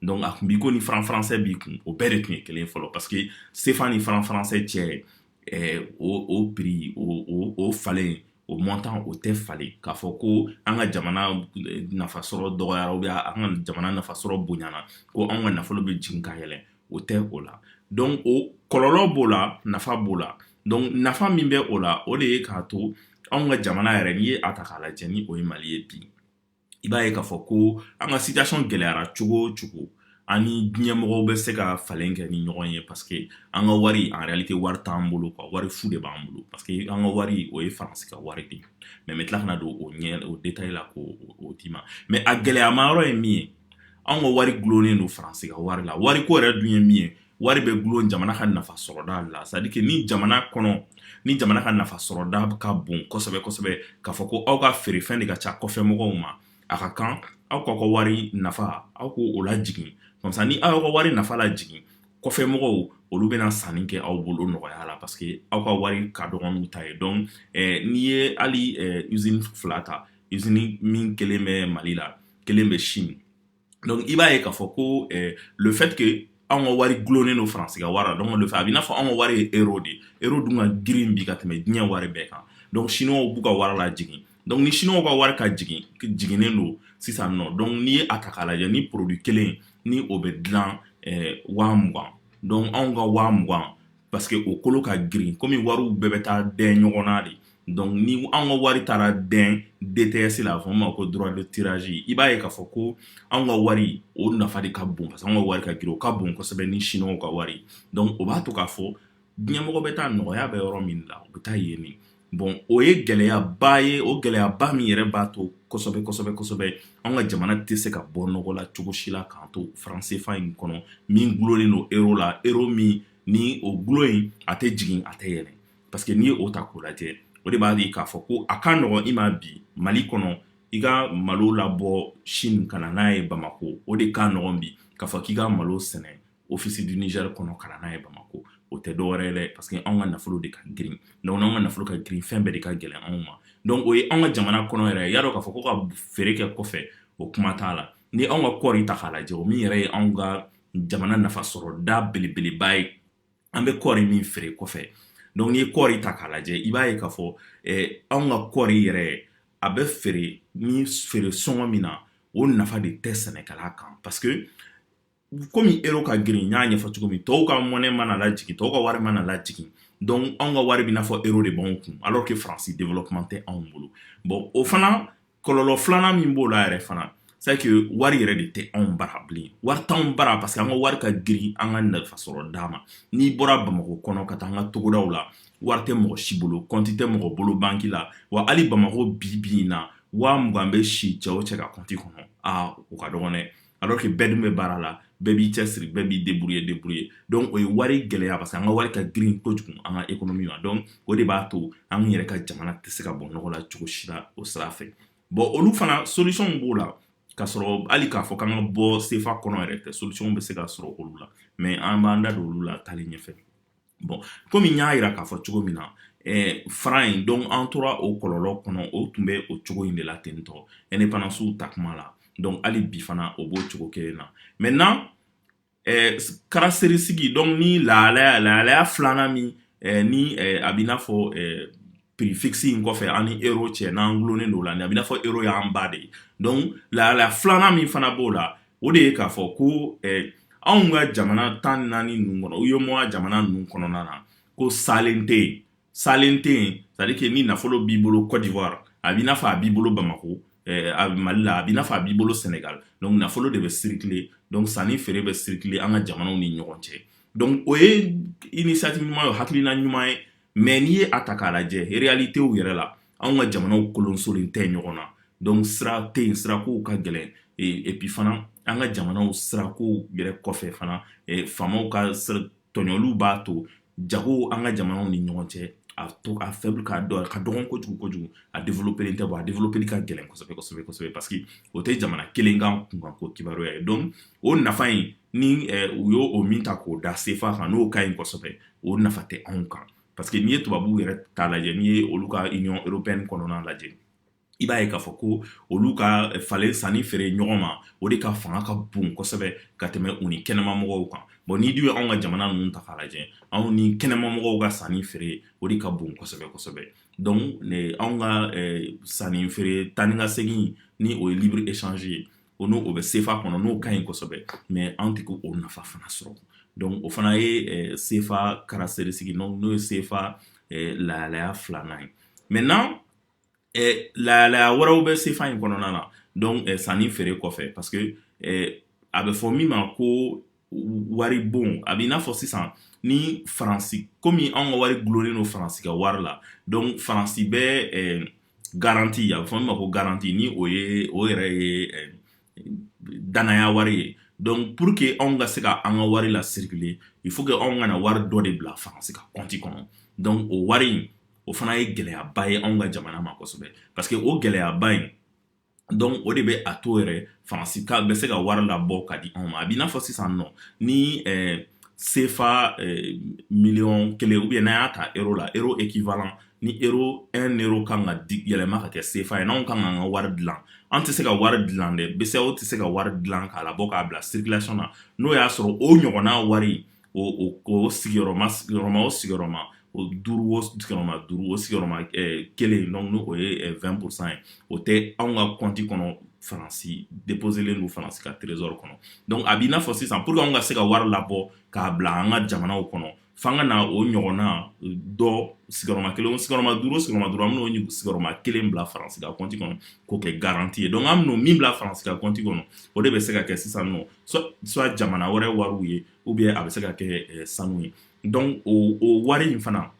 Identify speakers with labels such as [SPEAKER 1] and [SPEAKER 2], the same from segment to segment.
[SPEAKER 1] Donc, a kun b'i ko ni franc français b'i kun o bɛɛ de tun ye kelen fɔlɔ parce que CFA ni franc français cɛ eh, o, o prix o, o, o falen o montant o tɛ falen k'a fɔ ko an ka jamana eh, nafasɔrɔ dɔgɔyara ou bien an ka jamana nafasɔrɔ bonyana ko anw ka nafolo bɛ jigin ka yɛlɛn o tɛ o la donc o kɔlɔlɔ b'o la nafa b'o la donc nafa min bɛ o la o de ye k'a to anw ka jamana yɛrɛ n'i ye a ta k'a lajɛ ni o ye mali ye bi i b'a ye k'a fɔ ko an ka situation gɛlɛyara cogo o cogo an ni diɲɛmɔgɔ bɛ se ka falen kɛ ni ɲɔgɔn ye parce que an ka wari en réalité wari t'an bolo quoi wari fu de b'an bolo parce que an ka wari o ye faransi ka wari de mais n bɛ tila ka na don o eh, o détail la k'o d'i ma mais a gɛlɛyama yɔrɔ ye min ye an ka wari gulonnen don faransi ka wari la wari ko yɛrɛ dun ye min ye wari bɛ gulon jamana ka nafa sɔrɔda la c'est-à-dire que ni jamana kɔnɔ ni jamana ka nafa sɔrɔda ka bon kosɛbɛ kosɛbɛ k'a fɔ ko aw ka feerefɛn de ka ca kɔfɛ mɔgɔw ma a ka kan aw k'aw ka wari nafa aw k'o lajigin comme ça ni aw y'aw ka wari nafa lajigin kɔfɛ mɔgɔw olu bɛna sanni kɛ aw bolo nɔgɔya la parce que aw ka wari ka dɔgɔ n'u ta ye donc eh, n'i ye hali eh, usine fila ta usine min kelen bɛ mali la kelen bɛ chine donc i b'a ye k'a fɔ ko eh, le fait que anw ka wari gulonnen don faransi ka wari la donc le fait a b'i n'a fɔ anw ka wari ye euro de ye euro dun ka girin bi ka tɛmɛ diɲɛ wari bɛɛ kan donc chinois b'u ka wari lajigin donc ni chinois ka wari ka jigin jiginnen don sisan nɔ donc n'i ye a ta k'a lajɛ ni produit kelen ni o bɛ dilan eh, waa mugan donc anw ka waa mugan parce que o kolo ka girin komi wariw bɛɛ bɛ taa dɛn ɲɔgɔn na de donc ni an ka wari taara dɛn DTS la a fɔ ma ko droit de tirage i b'a ye k'a fɔ ko an ka wari o nafa de ka bon parce que an ka wari ka girin o ka bon kosɛbɛ ni siniwaw ka wari donc o b'a to k'a fɔ diɲɛmɔgɔ bɛ taa nɔgɔya bɛ yɔrɔ min na u bɛ taa yen nin bon o ye gɛlɛyaba ye o gɛlɛyaba min yɛrɛ b'a to kosɛbɛ kosɛbɛ kosɛbɛ an ka jamana tɛ se ka bɔ nɔgɔ la cogo si la k'an to franc CFA in kɔnɔ min gulonlen don euro la euro min ni o gulon in a tɛ jigin a tɛ yɛlɛ parce que n'i ye o ta k'o lajɛ o de b'a di k'a fɔ ko a ka nɔgɔn i ma bi mali kɔnɔ i ka malo labɔ Chine ka na n'a ye bamakɔ o de ka nɔgɔn bi k'a fɔ k'i ka malo sɛnɛ office du Niger kɔnɔ ka na n'a ye bamakɔ o tɛ dɔwɛrɛ ye dɛ parce que anw ka nafolo de ka girin donc n'anw ka nafolo ka girin fɛn bɛɛ de ka gɛlɛn anw ma donc o ye anw ka jamana kɔnɔ yɛrɛ i y'a dɔn k'a fɔ ko ka feere kɛ kɔfɛ o kuma t'a la ni anw ka kɔɔri ta k'a lajɛ o min yɛrɛ ye anw ka jamana nafa sɔrɔ da belebeleba ye an bɛ kɔɔri min feere kɔfɛ donc n'i ye kɔɔri ta k'a lajɛ i b'a ye k'a fɔ eh, anw ka kɔɔri yɛrɛ a bɛ feere ni feere sɔngɔ min na o nafa de tɛ sɛnɛkɛla kan parce que komi ero ka girin n y'a ɲɛfɔ cogo min tɔw ka monnaie mana lajigin tɔw ka wari mana lajigin donc anw ka wari bɛ n'a fɔ ero de b'anw kun alors que faransi développement tɛ anw bolo bon o fana kɔlɔlɔ filanan min b'o la yɛrɛ fana c'est que wari yɛrɛ de tɛ anw bara bilen wari t'anw bara parce que an ka wari ka girin an ka nafa sɔrɔda ma n'i bɔra bamakɔ kɔnɔ ka taa an ka togodaw la wari tɛ mɔgɔ si bolo kɔnti tɛ mɔgɔ bolo banki la wa hali bamakɔ bi bi in na waa mugan bɛ si cɛ o cɛ ka kɔnti kɔnɔ o ka dɔgɔn dɛ alors que bɛɛ dun bɛ baara la bɛɛ b'i cɛsiri bɛɛ b'i débrouiller débrouiller donc o ye wari gɛlɛya parce que an ka wari ka girin kojugu an ka économie ma donc o de b'a to an yɛrɛ ka jamana tɛ se ka bɔ nɔgɔ la cogo si la o sira fɛ bon olu fana solution b'o la ka sɔrɔ hali k'a fɔ k'an ka bɔ sefa kɔnɔ yɛrɛ tɛ solution bɛ se ka sɔrɔ olu la mais an b'an da don olu la taalen ɲɛfɛ bon komi n y'a yira k'a fɔ cogo min na ɛɛ franc in donc an tora o kɔlɔlɔ kɔnɔ o tun bɛ o cogo in de la ten tɔ indépendance ta kuma la donc hali bi fana o b'o cogo kelen na maintenant ɛɛ caractéristique donc ni lahalaya filanan min ni a b'i n'a fɔ prix fixe in kɔfɛ an ni ero cɛ n'an dulonnen don la ni a b'i n'a fɔ ero y'an ba de ye donc lahalaya filanan min fana b'o la o de ye k'a fɔ ko anw ka jamana tan naani ninnu kɔnɔ UEMOA jamana ninnu kɔnɔna na ko salen tɛ yen salen tɛ yen c'est-à-dire que ni nafolo b'i bolo kɔdiwari a b'i n'a fɔ a b'i bolo bamakɔ a mali la a b'i n'a fɔ a b'i bolo sɛnɛgali donc nafolo de bɛ circuler donc sanni feere bɛ circuler an ka jamanaw ni ɲɔgɔn cɛ donc o ye initiative ɲuman ye hakilina ɲuman ye mais n'i ye a ta k'a lajɛ réalité yɛrɛ la anw ka jamanaw kolonsolen tɛ ɲɔgɔn na donc sira tɛ yen sirakow ka gɛlɛn et puis fana an ka jamanaw sirakow yɛrɛ kɔfɛ fana faamaw ka tɔɲɔliw b'a to jago an ka jamanaw ni ɲɔgɔn cɛ a to a faible don a ka dɔgɔn kojugu kojugu a développer tɛ bon a développer ka gɛlɛn kosɛbɛ kosɛbɛ parce que o tɛ jamana kelen ka kunkanko kibaruya ye donc o nafa in ni u y'o oo min ta k'o da sefa kan n'o ka ɲi kosɛbɛ o nafa tɛ anw kan parce que n'i ye tubabuw yɛrɛ ta lajɛ n'i ye olu ka union européenne kɔnɔna lajɛ i b'a ye k'a fɔ ko olu ka falen sanni feere ɲɔgɔn ma o de ka fanga ka bon kosɛbɛ ka tɛmɛ u ni kɛnɛma mɔgɔw kan bon n'i dun ye anw ka jamana ninnu ta k'a lajɛ anw ni kɛnɛma mɔgɔw ka sanni feere o de ka bon kosɛbɛ kosɛbɛ donc anw ka sanni feere taa ni ka segin ni o ye libre échange ye o n'o bɛ sefa kɔnɔ n'o ka ɲi kosɛbɛ mais an tɛ k'o nafa fana sɔrɔ donc o fana ye eh, sefa caractéristique n'o ye sefa eh, lahalaya filanan ye maintenant eh, lahalaya wɛrɛw bɛ sefa in kɔnɔna na donc sanni feere kɔfɛ parce que a bɛ fɔ min ma ko wari bon a b'i n'a fɔ sisan ni faransi komi anw ka wari gulonnen don faransi ka wari la donc faransi bɛ eh, garanti a bɛ fɔ min ma ko garanti ni o ye o yɛrɛ ye eh, danaya wari ye donc pour que anw ka se ka an ka wari la circuler il faut que anw ka na wari dɔ de bila faransi ka kɔnti kɔnɔ donc o wari in o fana ye gɛlɛyaba ye anw ka jamana ma kosɛbɛ parce que o gɛlɛyaba in donc o de bɛ a to yɛrɛ faransi ka bɛ se ka wari labɔ ka di anw ma a b'i n'a fɔ sisan nɔ ni sefa miliyɔn kelen ou bien n'an y'a ta euro la euro équivalent ni euro un euro kan ka di yɛlɛma ka kɛ sefa ye n'anw kan k'an ka wari dilan an tɛ se ka wari dilan dɛ bceao tɛ se ka wari dilan k'a labɔ k'a bila circulation na n'o y'a sɔrɔ o ɲɔgɔnna wari o sigiyɔrɔma o sigiyɔrɔma o duuru sigiyɔrɔma duuru o sigiyɔrɔma kelen donc n'o ye vingt pour cent ye o tɛ anw ka kɔnti kɔnɔ faransi déposélen don faransi ka trésor kɔnɔ donc a b'i n'a fɔ sisan pour que anw ka se ka wari labɔ k'a bila an ka jamanaw kɔnɔ f'an ka na o ɲɔgɔnna dɔ sigiyɔrɔma kelen sigiyɔrɔma duuru sigiyɔrɔma duuru an bɛ n'o sigiyɔrɔma kelen bila faransi ka kɔnti kɔnɔ k'o kɛ garanti ye donc an bɛ na min bila faransi ka kɔnti kɔnɔ o de bɛ se ka kɛ sisan nɔ soit jamana wɛrɛ wariw ye ou bien a bɛ se ka kɛ sanu ye donc o wari in fana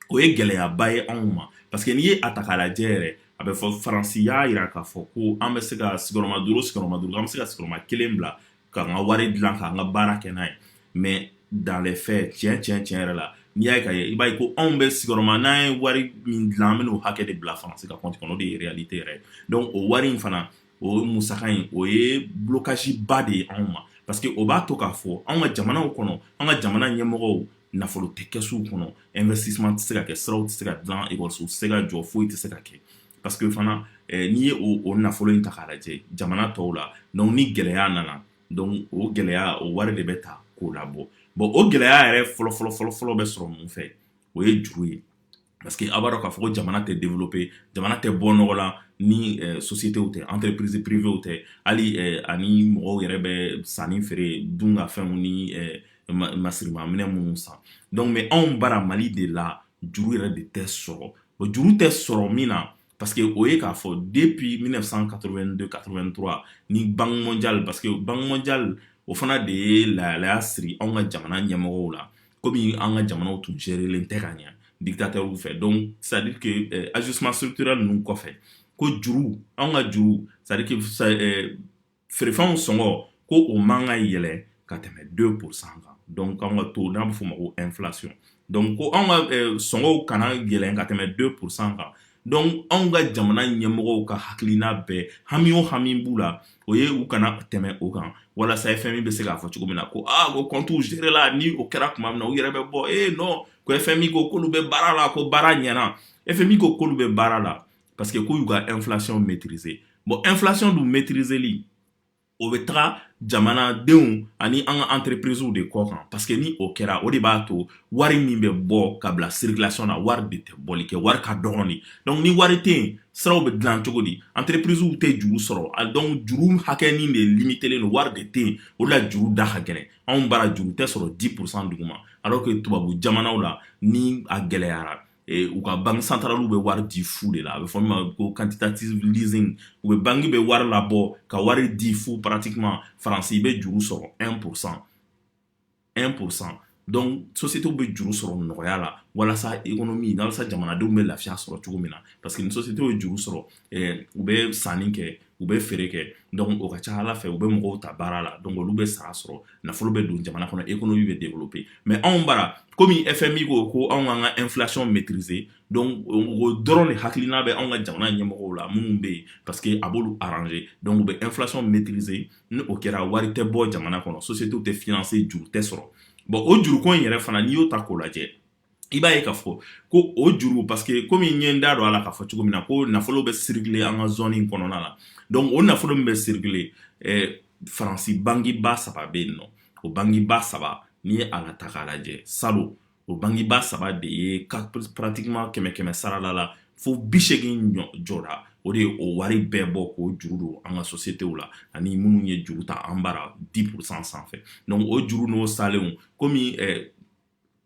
[SPEAKER 1] o ye gɛlɛyaba ye anw ma parce que n'i ye a ta k'a lajɛ yɛrɛ a bɛ fɔ faransi y'a jira k'a fɔ ko an bɛ se ka sigiyɔrɔma duuru sigiyɔrɔma duuru an bɛ se ka sigiyɔrɔma kelen bila k'an ka wari dilan k'an ka baara kɛ n'a ye mais dans les faits tiɲɛ tiɲɛ tiɲɛ yɛrɛ la n'i y'a ye ka ye i b'a ye ko anw bɛ sigiyɔrɔma n'an ye wari min dilan an bɛ n'o hakɛ de bila faransi ka compte kɔnɔ o de ye réalité yɛrɛ ye donc o wari in fana o musaka in o ye blocage ba de ye anw ma parce que o b'a to k'a fɔ an ka jamanaw kɔnɔ an ka jamana ɲɛmɔgɔw nafolo tɛ kɛsuw kɔnɔ investissement tɛ se ka kɛ siraw tɛ se ka dilan ekɔlisow tɛ se ka jɔ foyi tɛ se ka kɛ parce que fana n'i ye o nafolo in ta k'a lajɛ jamana tɔw la donc ni gɛlɛya nana donc o gɛlɛya o wari de bɛ ta k'o labɔ bon o gɛlɛya yɛrɛ fɔlɔfɔlɔfɔlɔfɔlɔ bɛ sɔrɔ mun fɛ o ye juru ye parce que a b'a dɔn k'a fɔ ko jamana tɛ développer jamana tɛ bɔ nɔgɔ la ni eh, sociétéw tɛ entreprise privéew tɛ hali eh, ani mɔgɔw yɛrɛ bɛ sanni feere dun ka fɛnw ni eh, masirimaminɛ minnu san donc mais anw bara mali de la juru yɛrɛ de tɛ sɔrɔ o juru tɛ sɔrɔ min na parce que o ye k'a fɔ depuis 1982 83 ni banque mondiale parce que banque mondiale o fana de ye lahalaya siri anw ka jamana ɲɛmɔgɔw la komi an ka jamanaw tun gérélen tɛ ka ɲɛ dictateurw fɛ donc c'est à dire que euh, ajustement structurel ninnu kɔfɛ ko juru anw ka juru c'est à dire que euh, feerefɛnw sɔngɔ ko o man ka yɛlɛ ka tɛmɛ 2 pourcent kan donc k'anw ka taux n'a bɛ f'o ma ko inflation donc ko anw ka eh, sɔngɔw kana yɛlɛn ka tɛmɛ 2 pourcent kan donc anw ka jamana ɲɛmɔgɔw ka hakilina bɛɛ hami o hami b'u la o ye u kana tɛmɛ o kan walasa fmi bɛ se k'a fɔ cogo min na ko aa ah, ko kɔntiw gérela ni o kɛra tuma min na u yɛrɛ bɛ bɔ ee eh, non ko fmi ko k'olu bɛ baara la ko baara ɲɛna fmi ko k'olu bɛ baara la parce que k'u y'u ka inflation maîtriser bon inflation dun maîtriseli o bɛ taga jamanadenw ani an ka entreprisew de kɔ kan parce que ni o kɛra o de b'a to wari min bɛ bɔ ka bila circulation na wari de tɛ bɔli kɛ wari ka dɔgɔn de donc ni wari tɛ yen siraw bɛ dilan cogo di entreprisew tɛ juru sɔrɔ a donc juru hakɛnin de limitelen don wari de tɛ yen o de la juru da ka gɛlɛn anw bara juru tɛ sɔrɔ 10 pourcent duguma alors que tubabu jamanaw la ni a gɛlɛyara ee, u ka banki santaraliw bɛ wari di fu de la a bɛ fɔ min ma ko quantitative leasing u bɛ banki bɛ wari labɔ ka wari di fu pratiquement faransi i bɛ juru sɔrɔ 1 pourcent 1 pourcent donc sociétéw bɛ juru sɔrɔ nɔgɔya la walasa économie walasa jamanadenw bɛ lafiya sɔrɔ cogo min na parce que ni sociétéw ye juru sɔrɔ eh, u bɛ sanni kɛ u bɛ feere kɛ donc o ka ca ala fɛ u bɛ mɔgɔw ta baara la donc olu bɛ sara sɔrɔ nafolo bɛ don jamana kɔnɔ économie bɛ développer mais anw bara kɔmi fmi ko ko anw ka ka inflation maîtriser donc o dɔrɔn de hakilina bɛ anw ka jamana ɲɛmɔgɔw la minnu bɛ yen parce que a b'olu arranger donc u bɛ inflation maîtriser ni o kɛra wari tɛ bɔ jamana kɔnɔ sociétéw tɛ financer juru tɛ sɔrɔ bon o juruko in yɛrɛ fana n'i y'o ta k'o lajɛ i b'a ye k'a fɔ ko o juru parce que komi n ye n da don a la k'a fɔ cogo min na ko nafolo bɛ circuler an ka zone in kɔnɔna la donc o nafolo min bɛ circuler faransi bankiba saba bɛ yen nɔ o bankiba saba n'i ye a la ta k'a lajɛ salon o bankiba saba de ye pratiquement kɛmɛ sarala la fo bi segin jɔra o de ye o wari bɛɛ bɔ k'o juru don an ka sociétéw la ani minnu ye juru ta an bara 10 pourcent sanfɛ donc o juru n'o salenlen kɔmi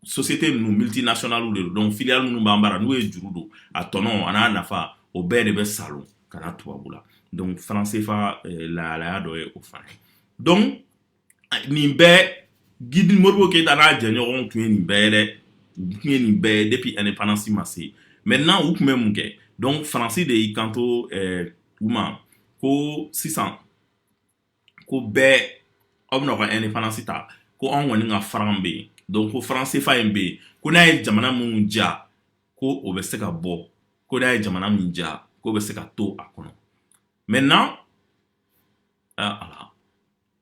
[SPEAKER 1] société ninnu multinationalew de don donc filiale minnu b'an bara n'u ye juru don a tɔnɔ an'a nafa o bɛɛ de bɛ salon ka na tubabu la donc franc cfa eh, lahalaya dɔ ye o fana ye donc nin bɛɛ guide modibo keyita n'a jɛɲɔgɔnw tun ye nin bɛɛ ye dɛ tun ye nin bɛɛ ye depuis indépendance ma se maintenant u tun bɛ mun kɛ donc faransi de y'i kanto eh, u ma ko sisan ko bɛɛ aw bɛna ka indépendance ta ko anw kɔni ka franc bɛ yen donc ko franc cfa in bɛ yen ko n'a ye jamana minnu diya ko o bɛ se ka bɔ ko n'a ye jamana min diya ko o bɛ se ka to a kɔnɔ maintenant ala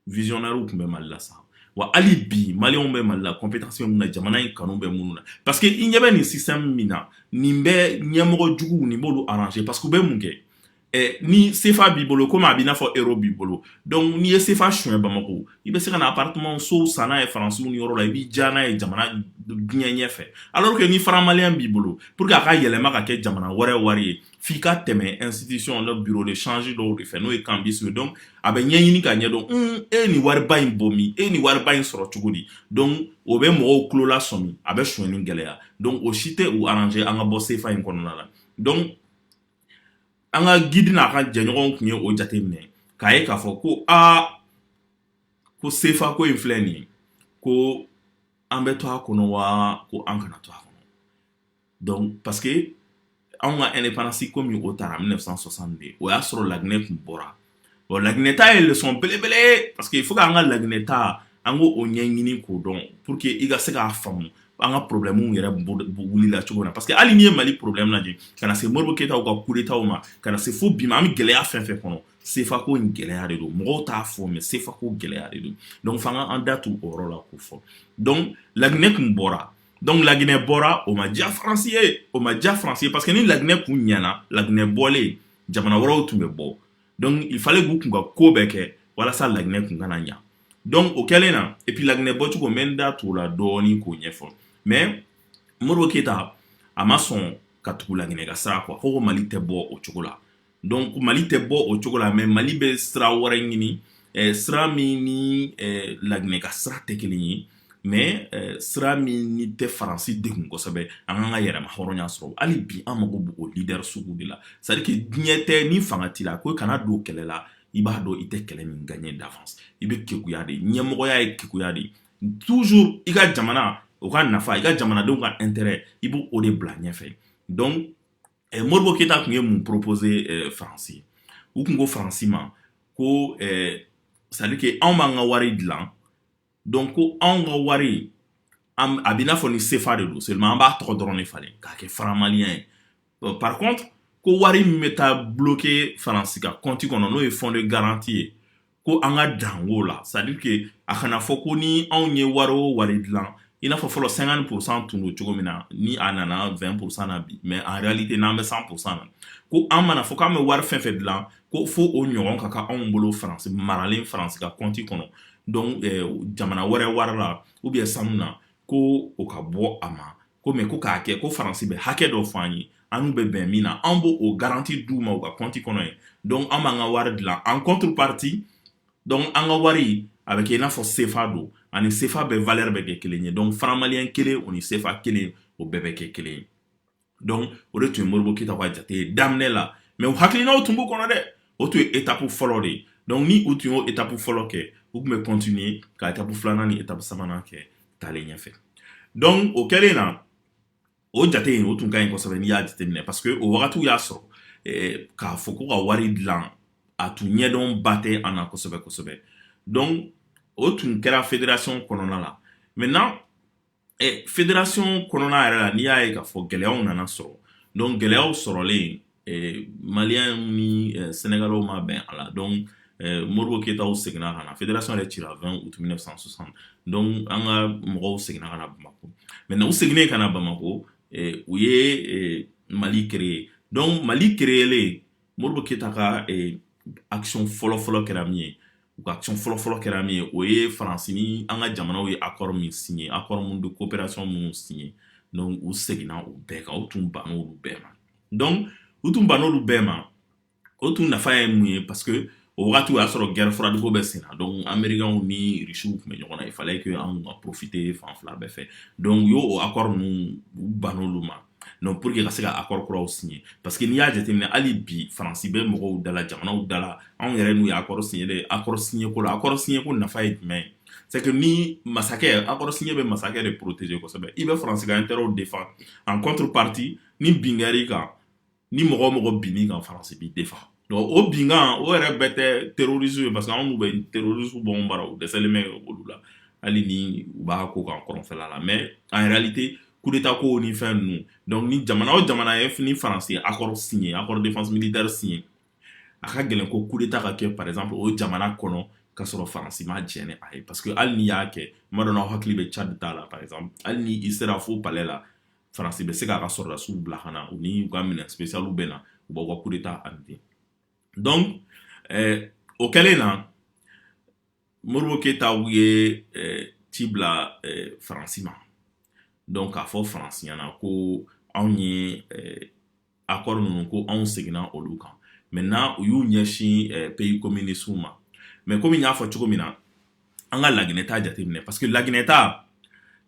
[SPEAKER 1] visionnairew tun bɛ mali la sa wa hali bi maliyɛnw bɛ mali la compétence bɛ min na jamana in kanu bɛ minnu na parce que i ɲɛ bɛ nin système min na nin bɛ ɲɛmɔgɔ juguw nin b'olu arranger parce que u bɛ mun kɛ Eh, ni sefa b'i bolo komi a b'i n'a fɔ euro b'i bolo donc n'i ye sefa suɲɛ bamako i bɛ se ka na appartement sow san n'a ye faransiw ni yɔrɔ la i b'i diyanye jamana diɲɛ ɲɛfɛ alors que ni franc malien b'i bolo pour que a ka yɛlɛma ka kɛ jamana wɛrɛ wari ye f'i ka tɛmɛ institution dɔ bureau de change dɔw de fɛ n'o ye cambistes ye donc a bɛ ɲɛɲini ka ɲɛdɔn un e ni wariba in bɔ min e ni wariba in sɔrɔ cogo di donc o bɛ mɔgɔw tulo lasɔmi a bɛ suɲɛni gɛlɛya donc o si tɛ u arranger an ka bɔ sefa in kɔnɔna la donc an ka guide n'a ka jɛɲɔgɔnw tun ye o jate minɛ k'a ye k'a fɔ ko aa ko sefa ko in filɛ nin ko an bɛ to a kɔnɔ wa ko an kana to a kɔnɔ donc parce que an ka indépendance komi o taara en mille neuf cent soixante de o y'a sɔrɔ laginɛ tun bɔra bon laginɛ ta ye leçon belebele ye parce que faut k'an ka laginɛ ta an k'o ɲɛɲini k'o dɔn pour que i ka se k'a faamu an ka problème yɛrɛ wulila cogo min na parce que hali n'i ye mali problème lajɛ ka na se modibo keyita ka coup d'état ma ka na se fo bi ma an bɛ gɛlɛya fɛn fɛn kɔnɔ sefako in gɛlɛya de don mɔgɔw t'a fɔ mais sefako gɛlɛya de don donc f'an ka an da tu o yɔrɔ la k'o fɔ donc laginɛ kun bɔra donc laginɛ bɔra o ma diya faransi ye o ma diya faransi ye parce que ni laginɛ kun ɲɛna laginɛ bɔlen jamana wɛrɛw tun bɛ bɔ donc il fallait k'u kun ka ko bɛɛ kɛ walasa laginɛ kun kana ɲa donc o kɛlen na et puis laginɛ bɔcogo n bɛ n da t'o la dɔɔni k'o ɲɛfɔ mais modibo keyita a ma sɔn ka tugu laginɛ ka sira quoi ko ko mali tɛ bɔ o cogo la donc mali tɛ bɔ o cogo la mais mali bɛ sira wɛrɛ ɲini eh, sira min ni eh, laginɛ ka sira tɛ kelen ye mais eh, sira min ni tɛ faransi degun kosɛbɛ an k'an ka yɛrɛmahɔrɔnya sɔrɔ hali bi an mago b'o leader sugu de la c'est à dire que diɲɛ tɛ ni fanga t'i la ko kana don kɛlɛ la i b'a dɔn i tɛ kɛlɛ min gagner d'avance i bɛ kekuya de ɲɛmɔgɔya ye kekuya de toujours i ka jamana o ka nafa i ka jamanadenw ka intérêt i b'o de bila ɲɛfɛ donc eh, modibo keyita tun ye mun proposer eh, faransi u tun ko faransi ma ko eh, c'est à dire que anw b'an ka wari dilan donc ko anw ka wari a b'i n'a fɔ ni sefa de don seulement an b'a tɔgɔ dɔrɔn de falen k'a kɛ franc malien ye par contre ko wari min bɛ taa bloquer faransi ka kɔnti kɔnɔ n'o ye fonds de garantie ye ko an ka dan o la c'est à dire que a kana fɔ ko ni anw ye wari o wari dilan i n'a fɔ fɔlɔ cinquante pour cent tun don cogo min na ni a nana vingt pour cent na bi mais en réalité n'an bɛ cent pour cent na ko an mana fɔ k'an bɛ wari fɛn fɛn dilan ko fo o ɲɔgɔn ka kɛ anw bolo faransi maralen faransi ka kɔnti kɔnɔ donc eh, jamana wɛrɛ wari la ou bien sanu na ko o ka bɔ a ma ko mais ko k'a kɛ ko faransi bɛ hakɛ dɔ fɔ an ye an n'u bɛ bɛn min na an b'o o garanti d'u ma u ka kɔnti kɔnɔ ye donc an b'an ka wari dilan en contrepartie donc an ka wari a bɛ kɛ i n'a fɔ sefa don ani sefa bɛɛ valeur bɛ kɛ kelen ye donc franc malien kelen o ni sefa kelen o bɛɛ bɛ kɛ kelen ye donc o de tun ye modibo keyita ka jate ye daminɛ la mais u hakilinaw tun b'u kɔnɔ dɛ o tun ye etapu fɔlɔ de ye donc ni u tun y'o etapu fɔlɔ kɛ u tun bɛ continuer ka etapu filanan ni etapu sabanan kɛ taalen ɲɛfɛ donc o kɛlen na o jate in o tun ka ɲi kosɛbɛ n'i y'a jateminɛ parce que o wagatiw y'a sɔrɔ eh, k'a fɔ ko ka wari dilan a tun ɲɛdɔn ba tɛ an na kosɛbɛ kosɛbɛ donc o tun kɛra fédération kɔnɔna la maintenant ɛ fédération kɔnɔna yɛrɛ la n'i y'a ye k'a fɔ gɛlɛyaw nana sɔrɔ donc gɛlɛyaw sɔrɔlen maliyɛnw ni senegalɛw ma bɛn a la donc modibo keyitaw seginna ka na fédération yɛrɛ cira 20 août 1960 donc an ka mɔgɔw seginna ka na bamako maintenant u seginnen ka na bamako u ye mali kereye donc mali kereyelen modibo keyita ka action fɔlɔfɔlɔ kɛra min ye u ka action fɔlɔfɔlɔ kɛra min ye o ye faransi ni an ka jamanaw ye accord min signé accord minnu de coopération minnu signé donc u seginna o bɛɛ kan u tun banna olu bɛɛ ma donc u tun banna olu bɛɛ ma o tun nafa ye mun ye parce que o wagati o y'a sɔrɔ guerre froide ko bɛ sen na donc amerikɛnw ni risiw tun bɛ ɲɔgɔn na il fallait que anw ka profiter fan fila bɛɛ fɛ donc u y'o o accord ninnu u ban'olu ma donc pour que ka se ka accord kuraw signer parce que n'i y'a jateminɛ hali bi faransi bɛ mɔgɔw dala jamanaw dala anw yɛrɛ n'u ye accord signer de accord signer ko la accord signer ko nafa ye jumɛn ye c'est que ni masakɛ accord signer bɛ masakɛ de protéger kosɛbɛ i bɛ faransi ka intérêt défend en contrepartie ni bin kɛr'i kan ni mɔgɔ o mɔgɔ bin'i kan faransi b'i défend o binkan o yɛrɛ bɛɛ tɛ terroristes ye parce que anw n'u bɛ terroristes bombarder u dɛsɛlen bɛ olu la hali ni u b'a ko kan kɔrɔnfɛla la mais en réalité kudeta ko ni fɛn ninnu donc ni jamana o jamana ye ni faransi accord signer accord de défense militaire signer a ka gɛlɛn ko kudeta ka kɛ par exemple o jamana kɔnɔ ka sɔrɔ faransi ma jɛ ni a ye parce que hali n'i y'a kɛ tuma dɔ n hakili bɛ tchad ta la par exemple hali ni i sera fo palais la faransi bɛ se k'a ka sɔrɔdasiw bila ka na u ni u ka minɛn spesiyaliw bɛ na u b'aw ka kudeta anéantir donc eh, o kɛlen na modibo keyitaw ye eh, ci bila eh, faransi ma donc k'a fɔ faransi ɲɛna ko anw ye eh, accord ninnu ko anw seginna olu kan maintenant u y'u ɲɛsin pays communistew ma mais komi n y'a fɔ cogo min na an ka laginɛ ta jateminɛ parce que laginɛ ta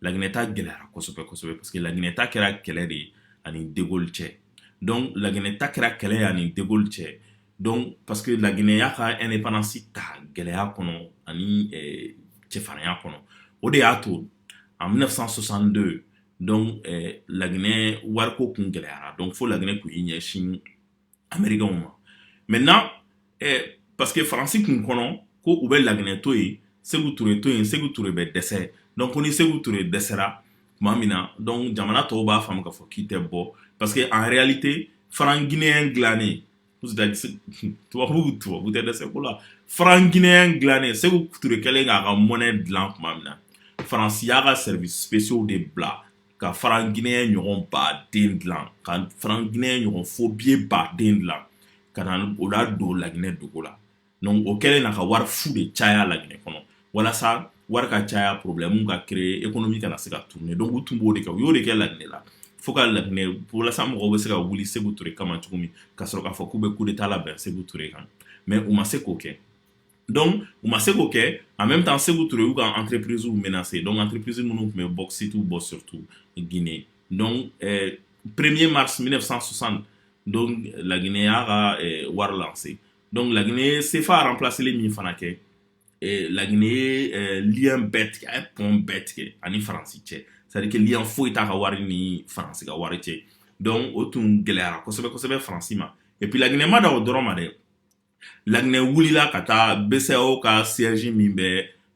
[SPEAKER 1] laginɛ ta gɛlɛyara kosɛbɛsɛbɛ parce que laginɛ ta kɛra kɛlɛ de ye ani de gaulle cɛ donc laginɛ ta kɛra kɛlɛ ye ani de gaulle cɛ donc parce que laginɛ y'a ka indépendance ta gɛlɛya kɔnɔ ani cɛfarinya kɔnɔ o de y'a to en 1962 donc laginɛ wariko kun gɛlɛyara donc fo laginɛ kun y'i ɲɛsin americains ma maintenant parce que faransi kun kɔnɔ ko u bɛ laginɛ to yen Seku Ture to yen Seku Ture bɛ dɛsɛ donc ko ni Seku Ture dɛsɛra tuma min na donc jamana tɔw b'a faamu k'a fɔ k'i tɛ bɔ parce que en réalité franc guinéen dilannen tubabu tubabu tɛ dɛsɛ ko la franc guinéen dilannen seku ture kɛlen k'a ka monnaie dilan tuma min na faransi y'a ka services spéciaux de bila ka franc guinéen ɲɔgɔn ba den dilan ka franc guinéen ɲɔgɔn faux billet ba den dilan ka na o ladon laginɛ dugu la donc o kɛlen na ka wari fu de caya laginɛ kɔnɔ walasa wari ka caya problème ka créer économie kana se ka tourner donc u tun b'o de kɛ u y'o de kɛ laginɛ la fo ka laginɛ walasa mɔgɔw bɛ se ka wuli seku ture kama cogo min ka sɔrɔ k'a fɔ k'u bɛ coup d'état labɛn seku ture kan mais u ma se k'o kɛ donc u ma se k'o kɛ en même temps seku ture y'u ka entreprise menacé donc entreprise minnu tun bɛ bauxite bɔ surtout guinée donc eh, premier mars 1960 donc laginɛ y'a ka eh, wari lancé donc laginɛ ye CFA remplacélen min fana kɛ eh, laginɛ ye lien bɛɛ tigɛ a ye pont bɛɛ tigɛ ani faransi cɛ c'est à dire que lien foyi t'a ka wari ni faransi ka wari cɛ donc o tun gɛlɛyara kosɛbɛ kosɛbɛ faransi ma et puis laginɛ ma dan o dɔrɔn ma dɛ laginɛ wulila ka taa BCEAO ka siège min bɛ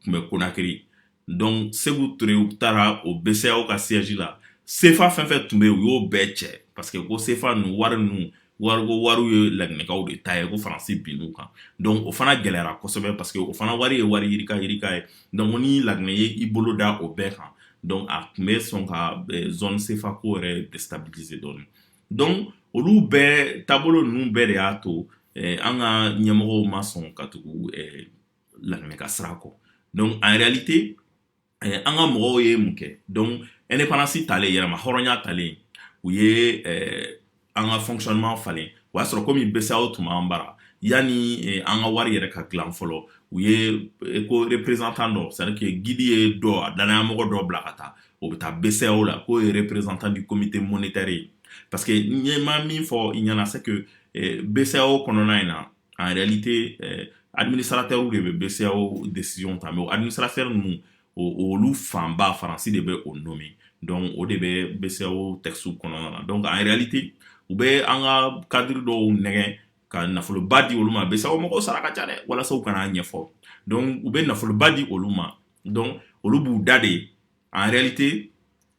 [SPEAKER 1] tun bɛ Conakry donc seku ture u taara o BCEAO ka siège la sefa fɛn fɛn tun bɛ yen u y'o bɛɛ cɛ parce que ko sefa ninnu wari ninnu wariko wariw ye laginɛkaw de ta ye ko faransi binn'u kan donc o fana gɛlɛyara kosɛbɛ parce que o fana wari ye wari yirika yirika ye donc ni laginɛ ye i bolo da o bɛɛ kan donc a tun bɛ sɔn ka eh, zone sefa ko yɛrɛ déstabiliser dɔɔni donc olu bɛɛ taabolo ninnu bɛɛ de y'a to eh, an ka ɲɛmɔgɔw ma sɔn ka tugu eh, laginɛ ka sira kɔ donc en réalité eh, an ka mɔgɔw ye mun kɛ donc indépendance talen yɛrɛmahɔrɔnya talen u ye eh, an ka fonctionnement falen o y'a sɔrɔ komi BCEAO tun b'an bara yanni eh, an ka wari yɛrɛ ka dilan fɔlɔ u ye eh, ko représentant dɔ c'est à dire que guide ye dɔ a dannayamɔgɔ dɔ bila ka taa o bɛ taa BCEAO la k'o ye représentant du comité monétaire ye parce que n ye ma min fɔ i ɲɛna c'est que eh, BCEAO kɔnɔna in na en réalité eh, administrateurs de bɛ BCEAO décision ta mais o administrateurs ninnu olu fanba faransi de bɛ o nommer donc o de bɛ BCEAO texte kɔnɔna na donc en réalité u bɛ an ka cadre dɔw nɛgɛn ka nafoloba di olu ma BCEAO mɔgɔw sara ka ca dɛ walasa u kan'a ɲɛfɔ donc u bɛ nafoloba di olu ma donc olu b'u da de en réalité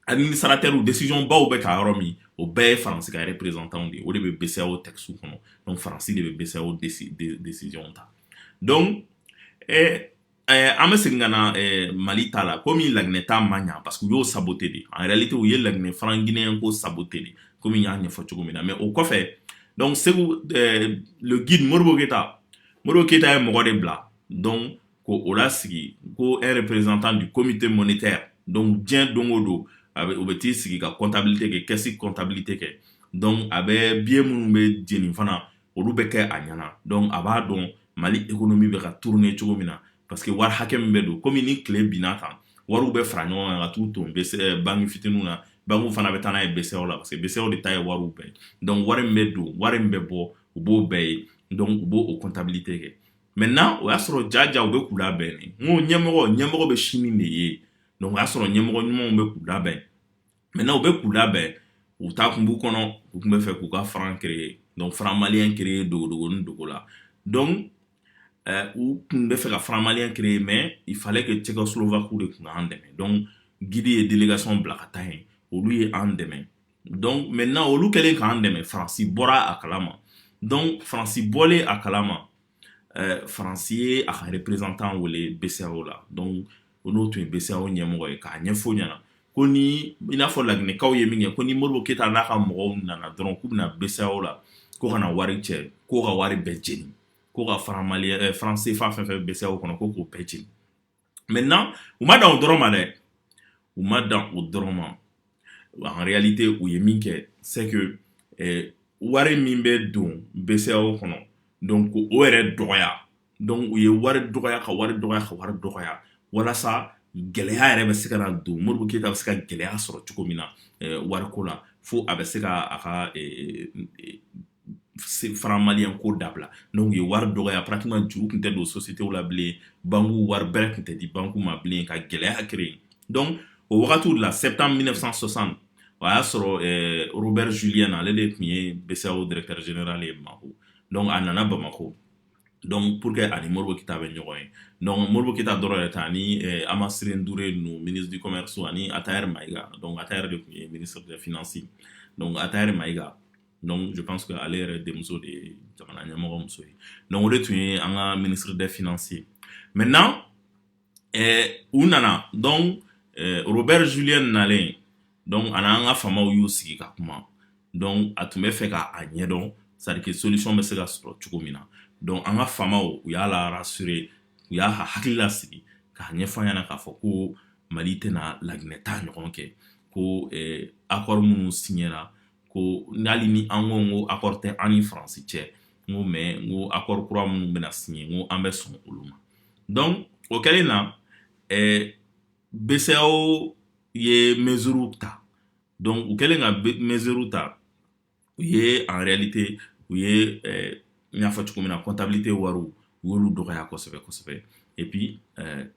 [SPEAKER 1] administrateurw décision baw bɛ ta yɔrɔ min o bɛɛ ye faransi ka représentant de ye o de bɛ BCEAO texte kɔnɔ donc faransi de bɛ BCEAO décision ta donc eh, eh, an bɛ segin ka na eh, mali ta la komi laginɛ ta ma ɲa parce que u y'o saboté de en réalité u ye laginɛ franc guinéen ko saboté de komi n y'a ɲɛfɔ cogo min na mais o kɔfɛ donc segu eh, le guide modibo keita modibo keita ye mɔgɔ de bila donc ko o lasigi ko un représentant du comité monétaire donc diɲɛ don o don a bɛ o bɛ t'i sigi ka comptabilité kɛ caisse comptabilité kɛ donc a bɛ billet minnu bɛ jeni fana olu bɛ kɛ a ɲɛna donc a b'a dɔn mali économie bɛ ka tourner cogo min na parce que wari hakɛ min bɛ don komi ni tile binna kan wariw bɛ fara ɲɔgɔn kan ka t'u ton bese banki fitininw na bankiw fana bɛ taa n'a ye BCEAO la parce que BCEAO de ta ye wariw bɛɛ donc wari min bɛ don wari min bɛ bɔ u b'o bɛɛ ye donc u b'o o comptabilité kɛ maintenant o y'a sɔrɔ jaja u bɛ k'u labɛn n'o ɲɛmɔgɔ ɲɛmɔgɔ bɛ sini de ye o y'a sɔrɔ ɲɛmɔgɔ ɲumanw bɛ k'u labɛn maintenant u bɛ k'u labɛn u taa kun b'u kɔnɔ u tun bɛ fɛ k'u ka franc créer donc franc malien créer dogo ni dogo la donc u tun bɛ fɛ ka franc malien créer mais il fallait que tchécoslovaquew de tun k'an dɛmɛ donc guide ye délégation bila ka taa yen olu ye an dɛmɛ donc maintenant olu kɛlen k'an dɛmɛ faransi bɔra a kalama donc faransi bɔlen a kalama eh, faransi ye a ka représentant wele BCEAO la donc o n'o tun ye BCEAO ɲɛmɔgɔ ye k'a ɲɛfɔ ɲɛna ko ni i n'a fɔ laginɛkaw ye min kɛ ko ni modibo keita n'a ka mɔgɔw nana dɔrɔn k'u bɛna BCEAO la ko ka na wari cɛ ko ka wari bɛɛ jeni ko ka franc mali eh, franc CFA fɛn fɛn BCEAO kɔnɔ ko k'o bɛɛ jeni maintenant u ma dan o dɔrɔn ma dɛ u ma dan o dɔrɔn ma en réalité u ye min kɛ c'est que eh, wari min bɛ don BCEAO kɔnɔ donc o yɛrɛ dɔgɔya donc u ye wari dɔgɔya ka wari dɔgɔya ka wari dɔgɔya walasa gɛlɛya yɛrɛ bɛ se ka na don modibo keita bɛ se ka gɛlɛya sɔrɔ cogo min na eh, wariko la fo a bɛ se ka a ka eh, faramaya ko dabila n' ye wari dɔgɔya patima juru tun tɛ don sosi tɛ la bilen banku wari bɛɛ tun tɛ di banku ma bilen ka gɛlɛya kelen dɔn o wagati la se tan minɛ sɔsan o y'a sɔrɔ bɛ zuliy na ale de tun ye bɛ dɛrɛɛrɛjɛra ye ma dɔnku a nana bamakɔ dɔnku pur que ani mori ke bɛ ɲɔgɔn ye dɔnku mori ke dɔrɔn yɛrɛ tan ni a ma se duuru ninnu minidi kɔmimɛ sɔn ani a taa yɛrɛ ma ika dɔn a yɛrɛ de tun ye mini finasi a taa yɛrɛ ma ika donc je pense que ale yɛrɛ denmuso de ye jamana ɲɛmɔgɔ muso ye donc o de tun ye an ka ministre des finances ye maintenant eh, u nana donc eh, robert julien nalen donc ani an ka faamaw y'u sigi ka kuma donc a tun bɛ fɛ ka a ɲɛdɔn c'est à dire que solution bɛ se ka sɔrɔ cogo min na donc an ka faamaw u y'a la rassurer u y'a hakili lasigi k'a ɲɛfɔ a ɲɛna k'a fɔ ko mali tɛna laginɛ ta ɲɔgɔn kɛ ko eh, accord minnu signera ko hali ni an ko ko accord tɛ an ni faransi cɛ n ko mais n ko accord kura minnu bɛna signer n ko an bɛ sɔn olu ma donc o kɛlen na ɛɛ BCEAO ye mesure ta donc u kɛlen ka mesure ta u ye en réalité u ye ɛɛ n y'a fɔ cogo min na comptabilité wariw u y'olu dɔgɔya kosɛbɛ kosɛbɛ et puis ɛɛ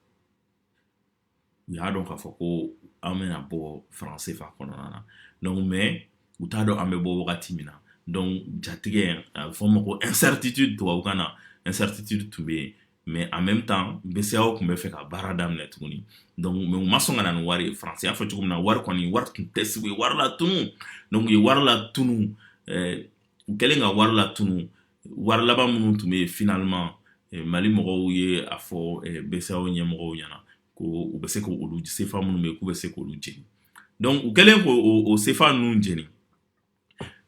[SPEAKER 1] u y'a dɔn k'a fɔ ko an bɛna bɔ franc CFA kɔnɔna na donc mais u t'a dɔn an bɛ bɔ wagati min na donc jatigɛ a bɛ fɔ ma ko incertitude tubabukan na incertitude tun bɛ yen mais en même temps BCEAO tun bɛ fɛ ka baara daminɛ tuguni donc mais u ma sɔn ka na ni wari ye faransi y'a fɔ cogo min na wari kɔni wari tun tɛ sigi u ye wari latunu donc u ye wari latunu ɛɛ u kɛlen ka wari latunu wari laban minnu tun bɛ yen finalement eh, mali mɔgɔw ye a fɔ eh, BCEAO ɲɛmɔgɔw ɲɛna ko u bɛ se k'olu sefa minnu bɛ yen k'u bɛ se k'olu jeni donc u kɛlen k'o sefa ninnu jeni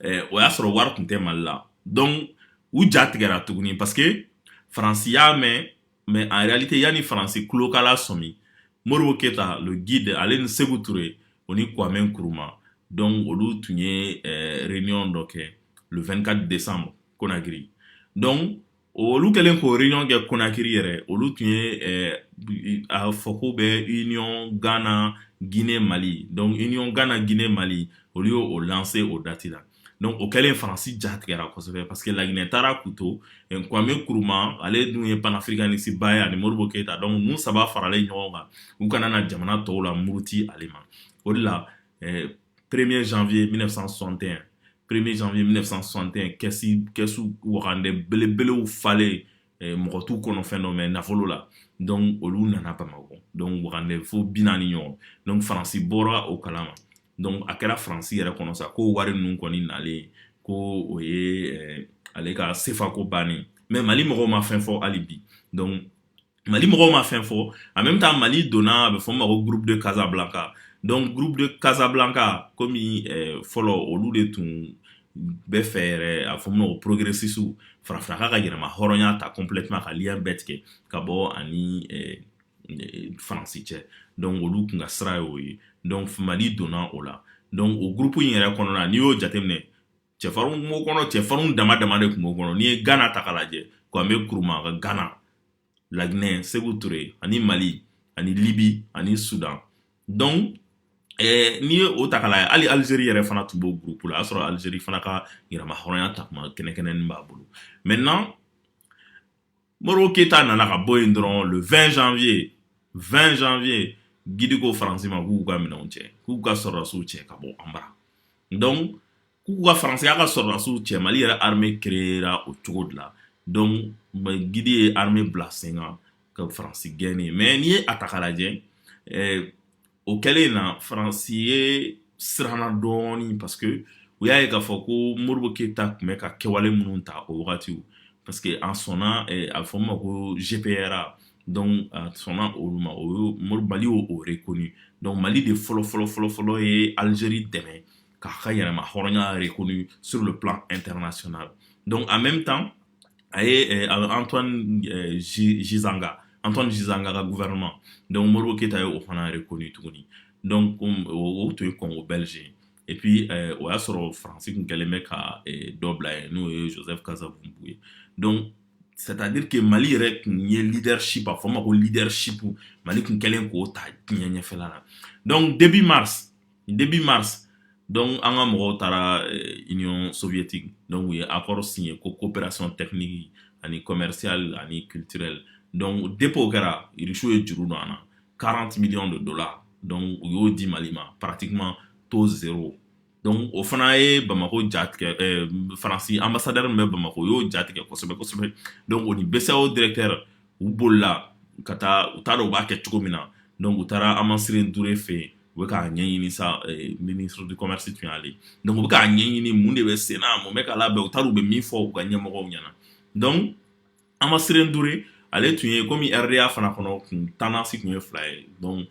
[SPEAKER 1] eh, o y'a sɔrɔ wari tun tɛ mali la donc u ja tigɛra tuguni parce que faransi y'a mɛn mais en réalité yanni faransi tulo ka lasɔmi modibo keita le guide ale ni sékou touré o ni kwame nkrumah donc olu tun ye eh, réunion dɔ kɛ le 24 décembre konakiri donc olu kɛlen k'o réunion kɛ konakiri yɛrɛ olu tun ye eh, a fɔ ko bɛ union ghana guinée mali donc union ghana guinée mali olu y'o lancer o date la donc o kɛlen faransi ja tigɛra kosɛbɛ parce que laginɛ taara k'u to kwame nkrumah ale dun ye panafricaniste ba ye ani modibo keita donc ninnu saba faralen ɲɔgɔn kan u kana na jamana tɔw lamuruti ale ma o de la eh, premier janvier 1961 premier janvier 1961 kɛsi kɛsu wagande belebelew falen eh, mɔgɔ t'u kɔnɔ fɛn dɔn mais nafolo la donc olu nana bamakɔ donc wagande fo bi naani ɲɔgɔn donc faransi bɔra o kalama donc a kɛra faransi yɛrɛ kɔnɔ sa ko wari ninnu kɔni nalen ko o ye eh, ale ka sefa ko bannen mais mali mɔgɔw ma fɛn fɔ hali bi donc mali mɔgɔw ma fɛn fɔ en même temps mali donna a bɛ fɔ ma ko groupe de casablanca donc groupe de casablanca komi eh, fɔlɔ olu de tun bɛ fɛ yɛrɛ a fɔ ma ko progressistew farafinna k'a ka yɛrɛmahɔrɔnya ta complètement ka lien bɛɛ tigɛ ka bɔ ani eh, faransi cɛ donc olu tun ka sira y'o ye donc mali donna o la donc o gurupu in yɛrɛ kɔnɔna n'i y'o jateminɛ cɛfarinw kun b'o kɔnɔ cɛfarinw dama dama de kun b'o kɔnɔ n'i ye gana ta k'a lajɛ kwame nkrumah ka gana laginɛ seku ture ani mali ani libi ani sudan donc eh, n'i ye o ta k'a lajɛ hali alizeri yɛrɛ fana tun b'o gurupu la a y'a sɔrɔ alizeri fana ka yɛrɛmahɔrɔnya ta kuma kɛnɛkɛnɛni b'a bolo maintenant moribo keyita nana ka bɔ yen dɔrɔn le 20 janvier 20 janvier gidi ko faransi ma k'u ka minɛnw cɛ k'u ka sɔrɔdasiw cɛ ka bɔ an bara donc k'u ka faransiya ka sɔrɔdasiw cɛ mali yɛrɛ armée créera o cogo de la donc gidi ye armée bila sen kan ka faransi gɛn yen mais n'i ye a ta k'a lajɛ eh, o kɛlen na faransi ye siranna dɔɔni parce que u y'a ye k'a fɔ ko moribo keyita tun bɛ ka kɛwale minnu ta o wagati parce que a sɔnna eh, a bɛ fɔ min ma ko gpra donc a sɔnna olu ma o ye mori mali y'o o reconnu donc mali de fɔlɔ fɔlɔ fɔlɔ fɔlɔ ye algérie dɛmɛ k'a ka yɛrɛmahɔrɔnya reconnu sur le plan international donc en même temps a ye antoine gizenga antoine gizenga ka gouvernement donc moribo keyita ye o fana reconnu tuguni donc o tun ye congo belge ye et puis o y'a sɔrɔ faransi tun kɛlen bɛ ka dɔ bila yen n'o ye joseph kasavubu ye donc c'est-à-dire que mali yɛrɛ tun ye leadership a fɔ ma ko leadership mali tun kɛlen k'o ta diɲɛ ɲɛfɛla la donc début mars début mars donc an ka mɔgɔw taara eh, union soviétique donc u ye accord signé ko coopération technique ani commerciale ani culturelle donc depuis o kɛra irisiw ye juru don an na 40 millions de dollars donc u y'o di mali ma pratiquement taux zéro donc o fana ye bamako ja tigɛ eh, faransi ambassadeur min bɛ bamako o y'o ja tigɛ kosɛbɛ kosɛbɛ donc o ni bceao directeur u bolila ka taa u t'a dɔn u b'a kɛ cogo min na donc u taara hamaciré n'douré fɛ yen u bɛ k'a ɲɛɲini sa eh, ministre du commerce tun y'ale donc u bɛ k'a ɲɛɲini mun de bɛ sen na mun bɛ ka labɛn u t'a dɔn u bɛ min fɔ u ka ɲɛmɔgɔw ɲɛna donc hamaciré n'douré ale tun ye komi rda fana kɔnɔ kun tendance tun ye fila ye donc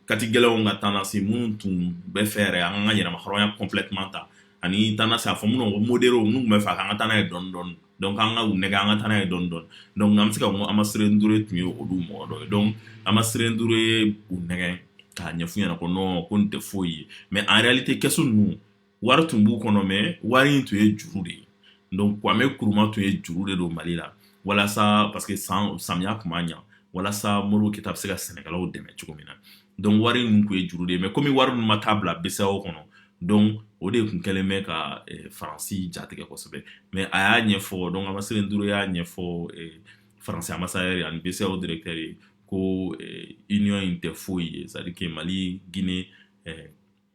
[SPEAKER 1] kati gɛlɛnw ka tendance minnu tun b'a fɛ yɛrɛ an ka yɛrɛmahɔrɔnya complètement ta ani tendance a fɔ minnu ko modéréw minnu tun b'a fɛ k'an ka taa n'a ye dɔɔni dɔɔni donc an k'u nɛgɛn an ka taa n'a ye dɔɔni dɔɔni donc an bɛ se ka hamaciré n'douré tun ye olu mɔgɔ dɔ ye donc hamaciré n'douré ye u nɛgɛn k'a ɲɛf'u ɲɛna ko non ko nin tɛ foyi ye mais en réalité kɛsu ninnu wari tun b'u kɔnɔ mais wari in tun ye juru de ye donc kwame nkrumah tun ye juru de don mali la walasa parce que san samiya tun ma ɲɛ walasa modibo keïta bɛ se ka sɛnɛkɛlaw dɛmɛ cogo min na donc wari ninnu tun ye juru de ye mais kɔmi wari ninnu ma taa bila BCEAO kɔnɔ donc o de tun kɛlen bɛ ka eh, faransi jatigɛ kosɛbɛ mais a y'a ɲɛfɔ donc hamaciré n'douré y'a ɲɛfɔ eh, faransi ambassadeur ani BCEAO directeur ye ko eh, union in tɛ foyi ye c'est à dire que mali guinée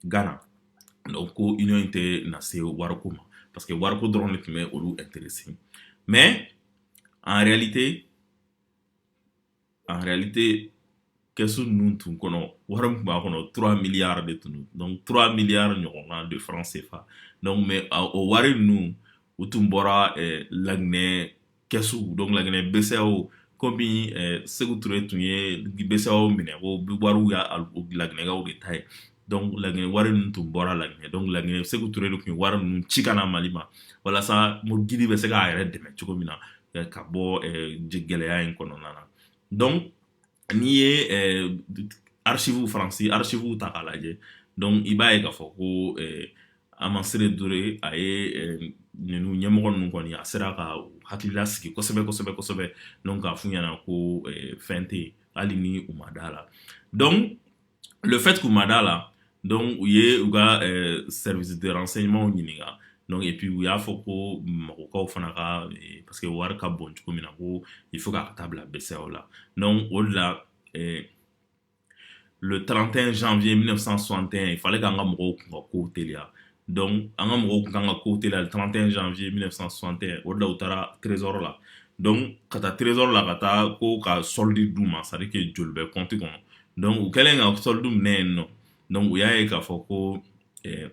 [SPEAKER 1] ghana donc ko union in tɛ na se wariko ma parce que wariko dɔrɔn de tun bɛ olu intéressé mais en réalité en réalité kɛsu ninnu tun kɔnɔ wari min tun b'a kɔnɔ 3 milliards de tun don donc 3 milliards ɲɔgɔnna de franc CFA donc mais o wari ninnu u tun bɔra laginɛ kɛsu donc laginɛ BCEAO komi eh, sékou touré tun ye BCEAO minɛ ko wariw y'a laginɛkaw de ta ye donc laginɛ wari ninnu tun bɔra laginɛ donc laginɛ sékou touré de tun ye wari ninnu ci ka na mali ma walasa gidi bɛ se k'a yɛrɛ dɛmɛ cogo min na eh, ka bɔ eh, gɛlɛya in kɔnɔna na donc n'i ye archives faransi archives ta k'a lajɛ donc i b'a ye k'a fɔ ko hamaciré n'douré a ye ninnu ɲɛmɔgɔ ninnu kɔni a sera ka hakilila sigi kosɛbɛ kosɛbɛ kosɛbɛ donc k'a f'u ɲɛna ko fɛn tɛ hali ni u ma d'a la donc le fait qu'u ma d'a la donc u ye u ka euh, service de renseignement ɲininka donc et puis u y'a fɔ ko bamakɔkaw fana ka eh, parce que wari ka bon cogo min na ko il faut k'a ka taa bila BCEAO la donc o de la eh, le 31 janvier 1961 il fallait k'an ka mɔgɔw kun ka kow teliya donc an ka mɔgɔw tun kan ka kow teliya 31 janvier 1961 o de la u taara trésor la donc ka taa trésor la ka taa ko ka solde d'u ma c'est à dire que joli bɛ compte kɔnɔ donc u kɛlen ka solde minɛ yen nɔ donc u y'a ye k'a fɔ ko eh,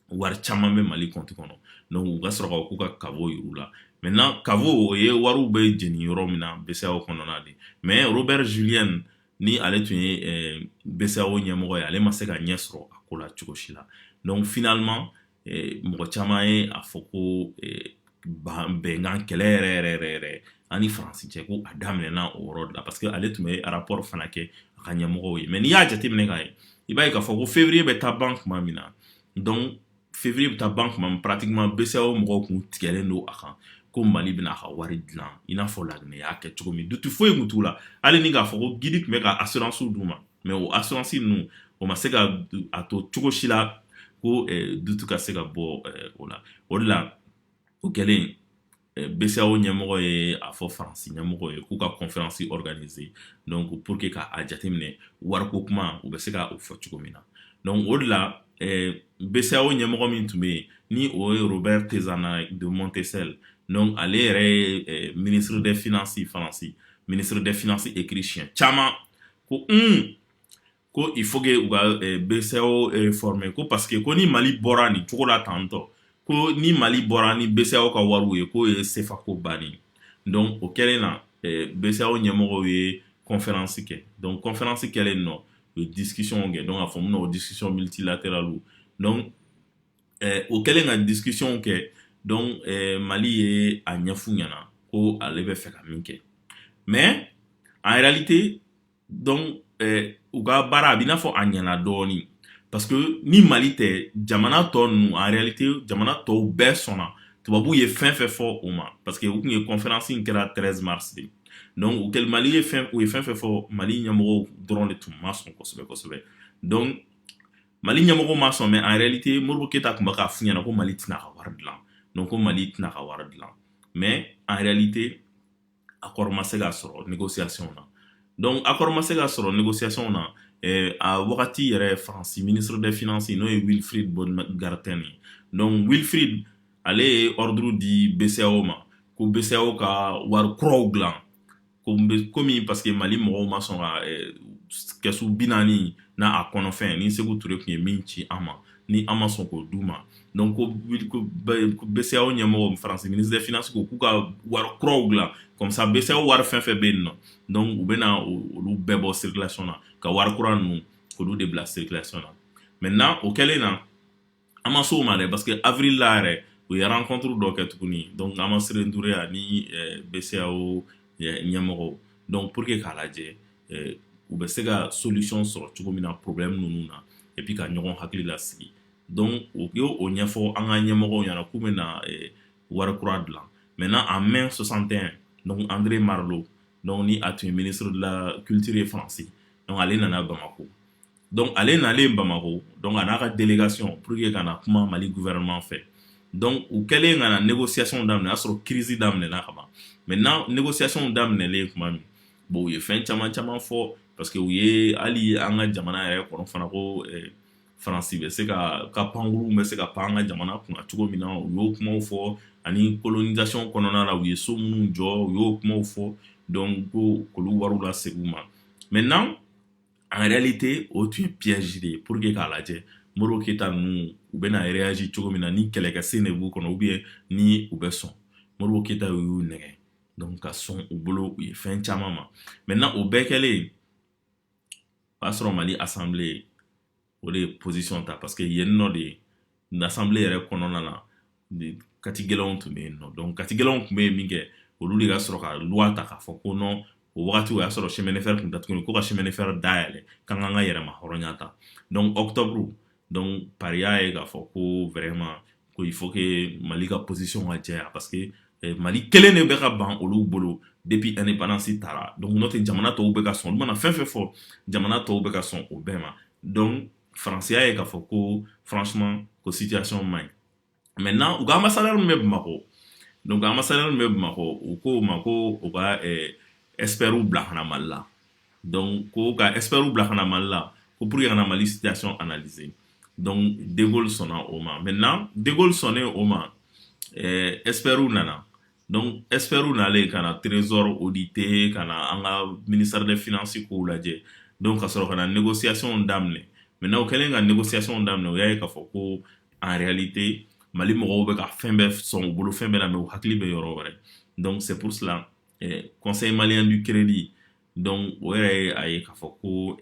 [SPEAKER 1] wari caman bɛ mali compte kɔnɔ donc u ka sɔrɔ ka k'u ka caveau yir'u la maintenant caveau o ye wariw bɛ jeni yɔrɔ min na BCEAO kɔnɔna de mais robert julienne ni ale tun ye eh, BCEAO ɲɛmɔgɔ ye ale ma se ka ɲɛ sɔrɔ a ko la cogo si la donc finalement eh, mɔgɔ caman ye a fɔ ko eh, bɛnkan kɛlɛ yɛrɛ yɛrɛ yɛrɛ yɛrɛ ani faransi cɛ ko a daminɛna o yɔrɔ de la parce que ale tun bɛ rapport fana kɛ a ka ɲɛmɔgɔw ye mais n'i y'a jateminɛ k'a ye i b'a ye k'a fɔ ko février bɛ taa ban tuma min na donc février bɛ taa ban kuma min pratiquement BCEAO mɔgɔw kun tigɛlen don a kan ko mali bɛna a ka wari dilan i n'a fɔ laginɛ y'a kɛ cogo min doute foyi kun t'u la hali ni k'a fɔ ko gidi tun bɛ ka assurance d'u ma mais o assurance ninnu o ma se ka a to cogo si la ko doute ka se ka bɔ o la o de la o kɛlen BCEAO ɲɛmɔgɔ ye a fɔ faransi ɲɛmɔgɔ ye k'u ka kɔnfɛransi organiser donc pour que ka a jateminɛ wariko kuma u bɛ se ka o fɔ cogo min na donc o de la BCEAO ɲɛmɔgɔ min tun bɛ yen ni o ye Robert Tézenas de Montcel donc ale yɛrɛ ye ministre des finances faransi ministre des finances écrit siɲɛ caman ko ko il faut que u ka eh, BCEAO réformer ko parce que ko ni Mali bɔra nin cogo la tantɔ ko ni Mali bɔra ni BCEAO ka wariw ye k'o ye CFA ko bannen donc o kɛlen na eh, BCEAO ɲɛmɔgɔw ye conférence kɛ donc conférence kɛlen nɔ u ye discussion kɛ donc a fɔ mun na o discussion multilatérale donc eh, o kɛlen ka discussion kɛ donc eh, Mali ye a ɲɛf'u ɲɛna ko ale bɛ fɛ ka min kɛ mais en réalité donc eh, u ka baara a b'i n'a fɔ a ɲɛna dɔɔni parce que ni mali tɛ jamana tɔ ninnu en réalité jamana tɔw bɛɛ sɔnna tubabu ye fɛn fɛn fɔ o ma parce que u tun ye conférence in kɛra 13 mars de donc o kɛlen mali ye fɛn u ye fɛn fɛn fɔ mali ɲɛmɔgɔw dɔrɔn de tun ma sɔn kosɛbɛ kosɛbɛ donc mali ɲɛmɔgɔ ma sɔn mais en réalité Modibo Keyita tun bɛ k'a f'u ɲɛna ko mali tɛna ka wari dilan donc ko mali tɛna ka wari dilan mais en réalité accord ma se ka sɔrɔ négociation na donc accord ma se ka sɔrɔ négociation na eh, a wagati yɛrɛ faransi ministre des finances n'o ye Wilfrid Baumgartner ye donc wilfrid ale ye ordre di BCEAO ma ko BCEAO ka wari kuraw dilan komi parce que mali mɔgɔw ma sɔn ka eh, kɛsu bi naani n'a a kɔnɔfɛn ni Seku Ture tun ye min ci an ma ni an ma sɔn k'o d'u ma donc ko BCEAO ɲɛmɔgɔ faransi ministre des finances ko k'u ka wari kuraw dilan comme ça BCEAO wari fɛn fɛn bɛ yen nɔ donc u bɛna olu bɛɛ bɔ circulation na ka wari kura ninnu olu de bila circulation na maintenant o kɛlen na an ma s'o ma dɛ parce que avril la yɛrɛ u ye rencontre dɔ kɛ tuguni donc Hamaciré N'Douré ani BCEAO ɲɛmɔgɔw donc pour que k'a lajɛ eh, u bɛ se ka solution sɔrɔ cogo min na problème ninnu na et puis ka ɲɔgɔn hakili lasigi donc u y'o ɲɛfɔ an ka ɲɛmɔgɔw ɲɛna k'u bɛna eh, wari kura dilan maintenant en mai 61 donc André Malraux donc ni a tun ye ministre de la culture ye Faransi donc ale nana Bamako donc ale nalen Bamako donc a n'a ka délégation pour que ka na kuma Mali gouvernement fɛ donc u kɛlen ka na négociationw daminɛ y'a sɔrɔ crise daminɛna ka ban maintenant négociationw daminɛlen tuma min bon u ye fɛn caman caman fɔ parce que u ye hali an ka jamana yɛrɛ kɔnɔ fana ko faransi bɛ se ka ka pankuru bɛ se ka pan an ka jamana kunna cogo min na u y'o kuma fɔ ani colonisation kɔnɔna la u ye so minnu jɔ u y'o kuma fɔ donc ko olu wari lasegin u ma mɛ en réalité o tun ye piège de ye pour que k'a lajɛ modibo keyita ninnu u bɛna réagir cogo min na ni kɛlɛkɛsen de b'u kɔnɔ ou bien ni u bɛ sɔn modibo keyita y'u nɛgɛ donc ka sɔn u bolo u ye fɛn caman ma maintenant o bɛɛ kɛlen o y'a sɔrɔ mali assemblée o de ye position ta parce que yen nɔ de l'assemblée yɛrɛ kɔnɔna na kati gɛlɛnw tun bɛ yen nɔ donc kati gɛlɛnw tun bɛ yen min kɛ olu de ka sɔrɔ ka loi ta k'a fɔ ko non o wagati o y'a sɔrɔ chemin de fer tun datuguni ko ka chemin de fer dayɛlɛ k'an k'an ka yɛrɛmahɔrɔnya ta donc octobre donc paris y'a ye k'a fɔ ko vraiment ko il faut que mali ka position ka jɛya parce que eh, mali kelen de bɛ ka ban olu bolo depuis indépendance tara donc n'o tɛ jamana tɔw bɛ ka sɔn olu mana fɛn fɛn fɔ jamana tɔw bɛ ka sɔn o bɛɛ ma donc faransi y'a ye k'a fɔ ko franchement ko situation man ɲi maintenant u ka ambassadeur min bɛ bamakɔ donc ambassadeur min bɛ bamakɔ u ko o ma ko u ka eh, expertw bila ka na mali la donc ko ka expertw bila ka na mali la ko pour que ka na mali situation analyser donc de Gaulle sɔnna o ma maintenant de Gaulle sɔnnen o ma eh, expertw nana donc expertw nalen ka na trésor auditer ka na an ka ministère des finances kow lajɛ donc ka sɔrɔ ka na négociation daminɛ maintenant o kɛlen ka négociation daminɛ u y'a ye k'a fɔ ko en réalité mali mɔgɔw bɛ ka fɛn bɛɛ sɔn u bolo fɛn bɛɛ la mais u hakili bɛ yɔrɔ wɛrɛ donc c'est pour cela conseil malien du crédit donc o yɛrɛ ye a ye k'a fɔ ko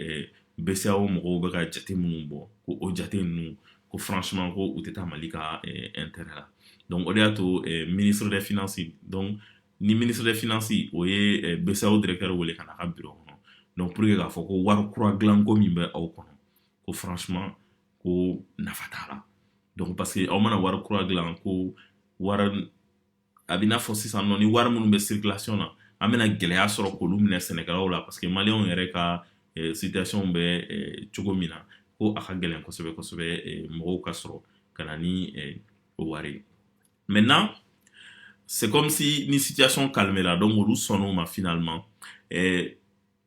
[SPEAKER 1] BCEAO mɔgɔw bɛ ka jate minnu bɔ ko o jate ninnu ko franchement ko u tɛ taa mali ka intérêt la donc o de y'a to ministre des finances donc ni ministre des finances o ye BCEAO directeur wele ka n'a ka bureau kɔnɔ donc pour que k'a fɔ ko wari kura dilanko min bɛ aw kɔnɔ ko franchement ko nafa t'a la donc parce que aw mana wari kura dilan ko wari a bɛ n'a fɔ sisan nɔ ni wari minnu bɛ circulation na an bɛna gɛlɛya sɔrɔ k'olu minɛ sɛnɛkɛlaw la parce que maliyɛnw yɛrɛ ka eh, situation bɛ eh, cogo min na ko a ka gɛlɛn kosɛbɛ kosɛbɛ eh, mɔgɔw ka sɔrɔ ka na ni o wari ye maintenant c'est comme si ni situation calmé la donc olu sɔnn'o ma finalement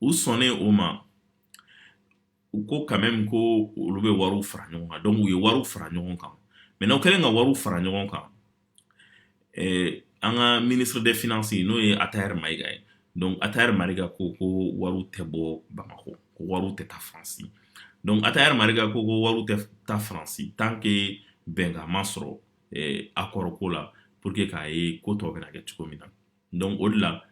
[SPEAKER 1] u sɔnnen o ma u ko quand même ko olu bɛ wariw fara ɲɔgɔn kan donc u ye wariw fara ɲɔgɔn kan maintenant u kɛlen ka wariw fara ɲɔgɔn kan an ka ministre des finances n'o ye ataher mayiga ye donc ataher mayiga ko wariw tɛ bɔ bamakɔ ko wariw tɛ taa faransi donc ataher mayiga ko wariw tɛ taa faransi tant que bɛnkan ma sɔrɔ accord ko la pour que k'a ye ko tɔw bɛna kɛ cogo min na donc o de la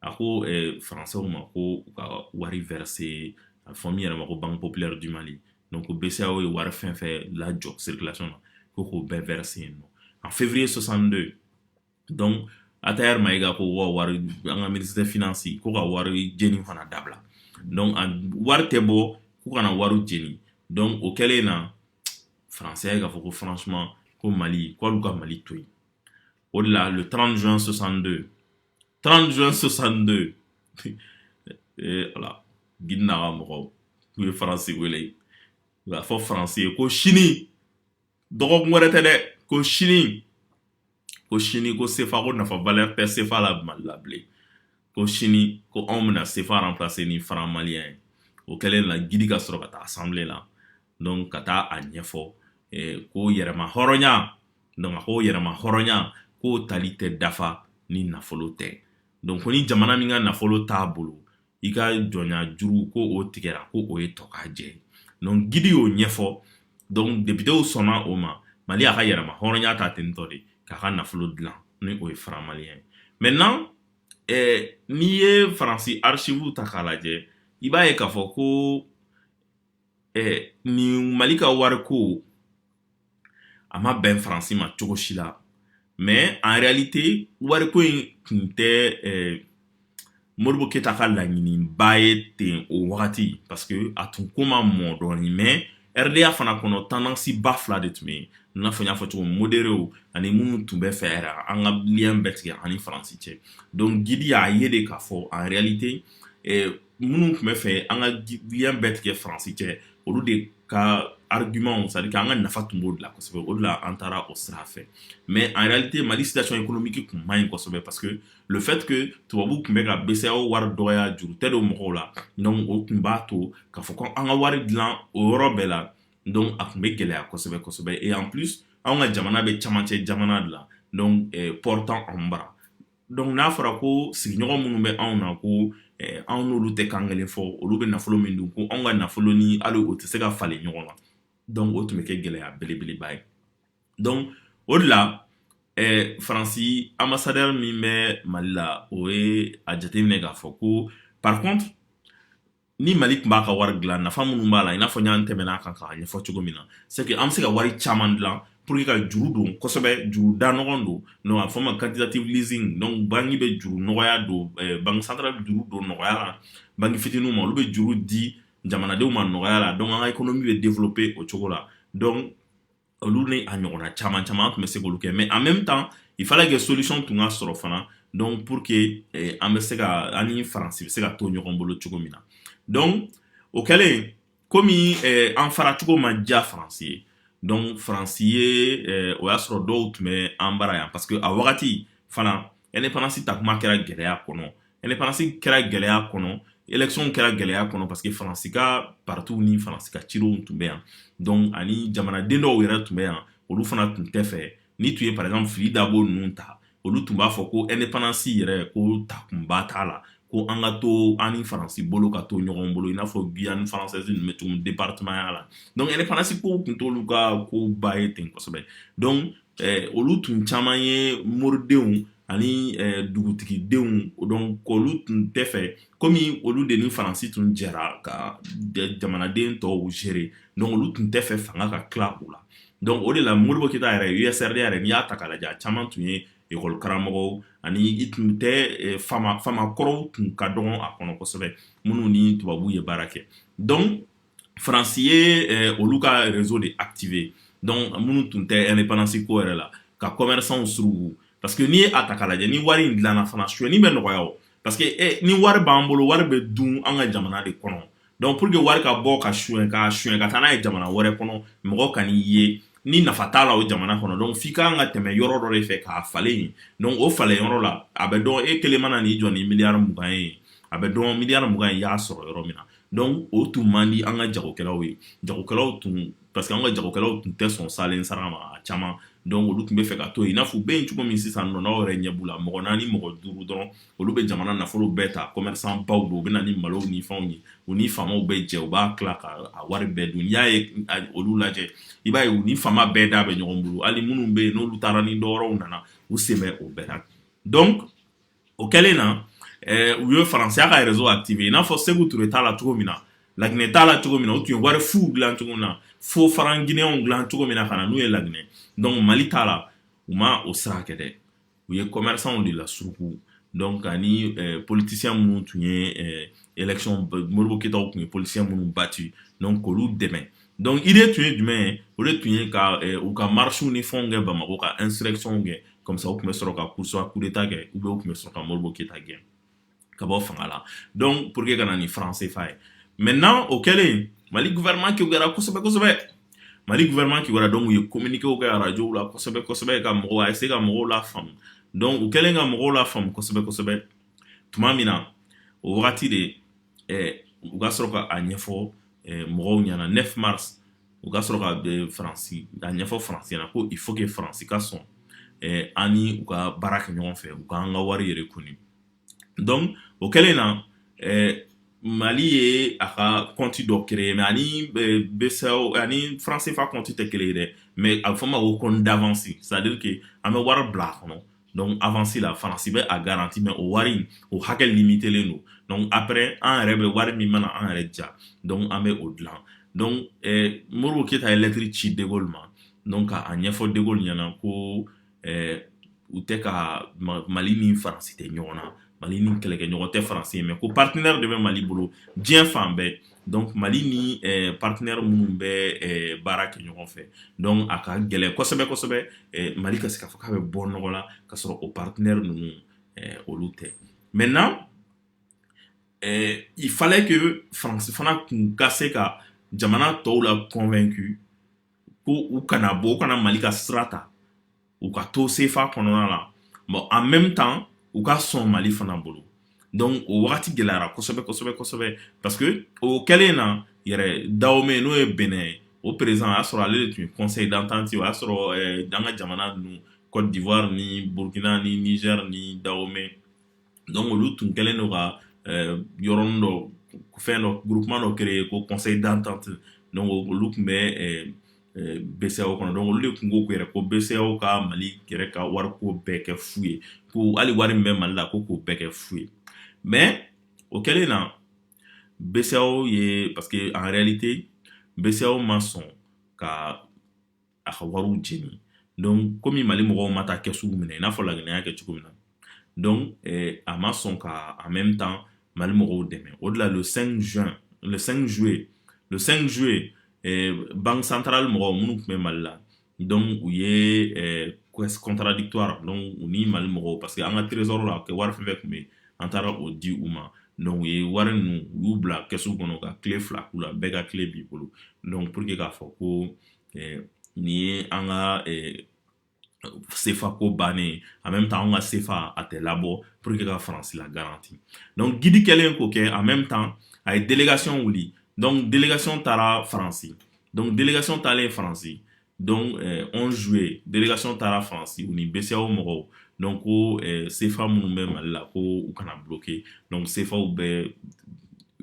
[SPEAKER 1] a ko françaisw ma ko u ka wari verser a fɔ min yɛrɛ ma ko banque populaire du mali donc ko BCEAO ye wari fɛn fɛn lajɔ circulation na ko k'o bɛɛ verser yen en février 62 donc attaher mayiga ko wari an ka ministre des finances ko ka wari jeni fana dabila donc wari tɛ bɔ k'u kana wari jeni donc o kɛlen in na français y'a ye k'a fɔ ko franchement ko mali k'olu ka mali to yen O de la le 30 juin 62. 30 juin 62. voilà gidi n'a ka mɔgɔw k'u ye faransi wele u y'a fɔ faransi ye ko sini dɔgɔkun wɛrɛ tɛ dɛ ko sini ko sini ko sefa ko nafa valeur tɛ sefa la mali la bilen ko sini ko anw bɛna sefa remplacer ni franc malien ye o kɛlen la gidi ka sɔrɔ ka taa assemblée la donc ka taa a ɲɛfɔ ko yɛrɛma hɔrɔnya donc a ko yɛrɛma hɔrɔnya k'o tali tɛ dafa ni nafolo tɛ donc ko ni jamana min ka nafolo t'a bolo i ka jɔnya juru ko o tigɛra ko o ye tɔkajɛ ye donc gidi y'o ɲɛfɔ donc depitew sɔnna o ma mali a ka yɛrɛma hɔrɔnya ta ten tɔ de k'a ka nafolo dilan ni o ye franc malien ye maintenant eh, n'i ye faransi archive ta k'a lajɛ i b'a ye k'a fɔ ko eh, nin mali ka wariko a ma bɛn faransi ma cogo si la mais en réalité wariko in tun tɛ eh, modibo keyita ka laɲiniba ye ten o wagati parce que a tun ko ma mɔ dɔɔni mais RDA fana kɔnɔ tendance ba fila de tun bɛ yen i n'a fɔ n y'a fɔ cogo modéréw ani minnu tun bɛ fɛ yɛrɛ an ka lien bɛɛ tigɛ ani faransi cɛ donc gidi y'a ye de k'a fɔ en réalité eh, minnu tun bɛ fɛ an ka lien bɛɛ tigɛ faransi cɛ olu de ka argument c'est-à-dire an ka nafa tun b'o de la kosɛbɛ o de la an taara o sira fɛ mais en réalité mali situation économique tun man ɲi kosɛbɛ parce que le fait que tubabu tun bɛ ka BCEAO wari dɔgɔya juru tɛ don mɔgɔw la donc o tun b'a to k'a fɔ ko an ka wari dilan o yɔrɔ bɛɛ la donc a tun bɛ gɛlɛya kosɛbɛ kosɛbɛ et en plus an ka jamana bɛ camancɛ jamana de la donc port t'an bara donc n'a fɔra ko sigiɲɔgɔn minnu bɛ anw na ko eh, anw n'olu tɛ kan kelen fɔ olu bɛ nafolo min dun ko anw ka nafolo ni hali o tɛ se ka falen ɲɔgɔn na donc o tun bɛ kɛ gɛlɛya belebeleba ye donc o de la eh, faransi ambassadeur min bɛ mali la o ye a jateminɛ k'a fɔ ko par contre ni mali tun b'a ka wari dilan nafa minnu b'a la i n'a fɔ y'an tɛmɛn'a kan k'a ɲɛfɔ cogo min na c'est que an bɛ se ka wari caman dilan pour que ka juru don kosɛbɛ juru da nɔgɔn don donc a fɔ ma quantitative easing donc banki bɛ juru nɔgɔya don eh, banki centrale bɛ juru don nɔgɔya la banki fitininw ma olu bɛ juru di jamanadenw ma nɔgɔya la donc an ka économie bɛ développer o cogo la donc olu ni a ɲɔgɔnna caman caman an tun bɛ se k'olu kɛ mais en même temps il fallait que solution tun ka sɔrɔ fana donc pour que eh, an bɛ se ka an ni faransi bɛ se ka to ɲɔgɔn bolo cogo min na donc o kɛlen komi eh, an fara cogo ma diya faransi ye donc faransi ye eh, o y'a sɔrɔ dɔw tun bɛ an bara yan parce que a wagati fana indépendance ta kuma kɛra gɛlɛya kɔnɔ indépendance kɛra gɛlɛya kɔnɔ élection kɛra gɛlɛya kɔnɔ parce que faransi ka partiw ni faransi ka cidenw tun bɛ yan donc ani jamanaden dɔw yɛrɛ tun bɛ yan olu fana tun tɛ fɛ ni tun ye par exemple fili dabo ninnu ta olu tun b'a fɔ ko indépendance yɛrɛ ko takunba t'a la ko an ka to an ni faransi bolo ka to ɲɔgɔn bolo i n'a fɔ guyane française ninnu bɛ cogo min département ya la donc indépendance kow tun t'olu ka koba ye ten kosɛbɛ donc olu tun caman ye moridenw ani dugutigidenw donc olu tun tɛ fɛ komi olu de ni faransi tun jɛra ka jamanaden tɔw gérer donc olu tun tɛ fɛ fanga ka tila u la donc o de la modibo keyita yɛrɛ US-RDA yɛrɛ n'i y'a ta k'a lajɛ caman tun ye ekɔli karamɔgɔw ani i tun tɛ eh, faama kɔrɔw tun ka dɔgɔn a kɔnɔ kosɛbɛ minnu ni tubabu ye baara kɛ donc faransi ye eh, olu ka réseau de activer donc minnu tun tɛ indépendance ko yɛrɛ la ka commerçantw surugu parce que n'i ye a ta k'a lajɛ ni wari in dilanna fana suyɛni bɛ nɔgɔya o parce que eh, ni wari b'an bolo wari bɛ dun an ka jamana de kɔnɔ donc pour que wari ka bɔ ka suyɛn ka suyɛn ka taa n'a ye jamana wɛrɛ kɔnɔ mɔgɔ ka n'i ye ni nafa t'a la o jamana kɔnɔ donc f'i ka kan ka tɛmɛ yɔrɔ dɔ de fɛ k'a falen yen donc o falen yɔrɔ la a bɛ dɔn e kelen mana n'i jɔ ni miliyari mugan ye a bɛ dɔn miliyari mugan in i y'a sɔrɔ yɔrɔ min na donc o tun man di an ka jagokɛlaw ye jagokɛlaw tun parce que an ka jagokɛlaw tun tɛ sɔn saalen sara ma caman donc olu tun bɛ fɛ ka to yen n'a fɔ u bɛ yen cogo min sisan non an yɛrɛ ɲɛ b'u la mɔgɔ naani mɔgɔ duuru dɔrɔn olu bɛ jamana nafolo bɛɛ ta commerçant baw don u bɛ na ni malo ni fɛnw ye u ni faamaw bɛ jɛ u b'a tila ka wari bɛɛ dun n'i ye olu lajɛ i b'a ye u ni faama bɛɛ da bɛ ɲɔgɔn bolo hali minnu bɛ yen n'olu taara ni dɔwɛrɛw nana u sen bɛ o bɛɛ la donc o kɛlen na eh, u ye faransi y'a ka réseau activé i n'a fɔ seku ture t'a la cogo min na laginɛ t'a la cogo min na u tun ye wari fuw dilan cogo min na fo franc guinéenw dilan cogo min na ka na n'u ye laginɛ donc mali t'a la u ma o sira kɛ dɛ u ye commerçantw de lasuruku donc ani eh, politicien minnu tun ye eh, élection modibo keyitaw tun ye politicien minnu bati donc k'olu dɛmɛ donc idée tun ye jumɛn ye o de tun ye ka eh, u ka marchew ni fɛnw kɛ bamako ka insurrectionw kɛ comme ça u tun bɛ sɔrɔ ka kusa kudeta kɛ ou bien u tun bɛ sɔrɔ ka modibo keyita gɛn ka bɔ fanga la donc pour que ka na ni franc CFA ye maintenant o kɛlen mali gouvernement kiwara kosɛbɛ kosɛbɛ mali gouvernement kiwara donc u ye communiquéw kɛ arajo la kosɛbɛ kosɛbɛ ka mɔgɔw a essayer ka mɔgɔw lafaamu donc u kɛlen ka mɔgɔw lafaamu kosɛbɛ kosɛbɛ tuma min na o wagati de u ka sɔrɔ k'a ɲɛfɔ mɔgɔw ɲɛna 9 mars u ka sɔrɔ ka faransi a ɲɛfɔ faransi ɲɛna ko il faut que faransi ka sɔn ani u ka baara kɛ ɲɔgɔn fɛ u k'an ka wari yɛrɛ kɔni donc o kɛlen na mali ye a ka compte dɔ créer mais a ni BCEAO ani franc CFA compte tɛ kelen ye dɛ mais a bɛ fɔ ma ko compte d'avance c'est-à-dire que an bɛ wari bila a kɔnɔ donc avansi la faransi bɛ a garanti mais o wari o hakɛ limitelen don donc après an yɛrɛ bɛ wari min mana an yɛrɛ ja donc an bɛ o dilan donc eh, modibo keyita ye lɛtiri ci de gaulle ma donc ka a ɲɛfɔ de gaulle ɲɛna ko eh, u tɛ ka mali ni faransi tɛ ɲɔgɔn na mali ni kɛlɛkɛɲɔgɔn tɛ faransi ye mais ko partenaire de bɛ mali bolo diɲɛ fan bɛɛ donc mali ni eh, partenaire minnu bɛ eh, baara kɛ ɲɔgɔn fɛ donc a ka gɛlɛn kosɛbɛ kosɛbɛ eh, mali ka se k'a fɔ k'a bɛ bɔ nɔgɔ la ka sɔrɔ o partenaire ninnu olu tɛ maintenant il fallait que faransi fana tun ka se ka jamana tɔw la convaincu ko u kana bɔ u kana mali ka sira ta u ka to sefa kɔnɔna la bon en même temps u ka sɔn mali fana bolo donc o wagati gɛlɛyara kosɛbɛ kosɛbɛ kosɛbɛ parce que o kɛlen na yɛrɛ dawome n'o ye bénin ye o président o y'a sɔrɔ ale de tun ye conseil d'entente o y'a sɔrɔ eh, an ka jamana ninnu côte d'ivoire ni burkina ni niger ni dawome donc olu tun kɛlen don ka euh, yɔrɔnin dɔ fɛn dɔ groupement dɔ créer ko conseil d'entente donc olu tun bɛ euh, euh, BCEAO kɔnɔ donc olu de tun ko yɛrɛ ko BCEAO ka Mali yɛrɛ ka wariko bɛɛ kɛ fu ye ko hali wari min bɛ Mali la ko k'o bɛɛ kɛ fu ye mais o kɛlen na BCEAO ye parce que en réalité BCEAO ma sɔn ka a ka wariw jeni donc komi mali mɔgɔw ma taa kɛsuw minɛ i n'a fɔ laginɛ y'a kɛ cogo min na donc eh, a ma sɔn ka en même temps mali mɔgɔw dɛmɛ o de la le 5 juin le 5 juillet le 5 juillet eh, banque centrale mɔgɔw minnu tun bɛ mali la donc u ye caisse contradictoire donc u ni mali mɔgɔw parce que an ka trésor la kɛ wari fɛn fɛn tun bɛ an taara o di u ma donc u ye wari ninnu u y'u bila kɛsu kɔnɔ ka kile fila k'u la bɛɛ ka kile b'i bolo donc pour que k'a fɔ ko nin ye an ka sefa ko bannen en même temps an ka sefa a tɛ labɔ pour que ka faransi la garanti donc gidi kɛlen k'o kɛ en même temps a ye délégation wuli donc délégation taara faransi donc délégation taalen faransi donc 11 juillet délégation taara faransi u ni BCEAO mɔgɔw donc ko sefa minnu bɛ mali la ko u kana bloquer donc sefaw bɛ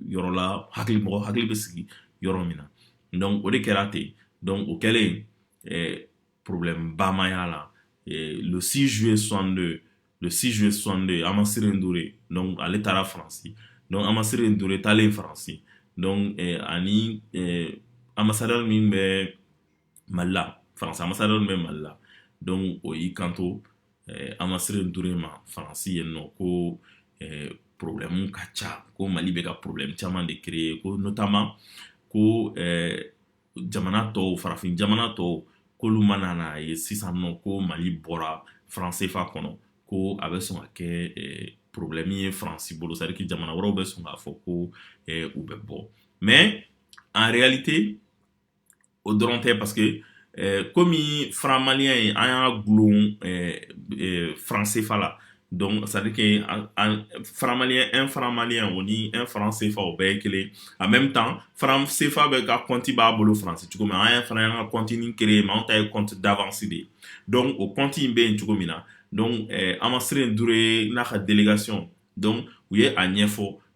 [SPEAKER 1] yɔrɔ la hakili mɔgɔ hakili bɛ sigi yɔrɔ min na donc o de kɛra ten donc o kɛlen eh, problème ba ma y'a la eh, le 6 juillet 62 le 6 juillet 62 Hamaciré N'Douré donc ale taara faransi donc Hamaciré N'Douré taalen faransi donc eh, ani eh, ambassadeur min bɛ mali la faransi ambassadeur min bɛ mali la donc o y'i kanto eh, Hamaciré N'Douré ma faransi yen nɔ ko eh, problɛmu ka ca ko mali bɛ ka problɛmu caman de créer ko notamment ko eh, jamana tɔw farafin jamana tɔw k'olu mana n'a ye sisan nɔ ko mali bɔra franc CFA kɔnɔ ko a bɛ sɔn ka kɛ eh, problɛmu ye faransi bolo c'est à dire que jamana wɛrɛw bɛ sɔn k'a fɔ ko eh, u bɛ bɔ mais en réalité o dɔrɔn tɛ parce que eh, komi franc malien ye an y'a gulon eh, eh, franc CFA la donc c'est à dire que un franc malien o ni un franc CFA o bɛɛ ye kelen en même temps franc CFA bɛ ka compte b'a bolo faransi cogo min an fana y'an ka compte nin créer mais anw ta ye compte d'avance de ye donc o compte in bɛ yen cogo min na donc eh, Hamaciré N'Douré n'a ka délégation donc u ye a ɲɛfɔ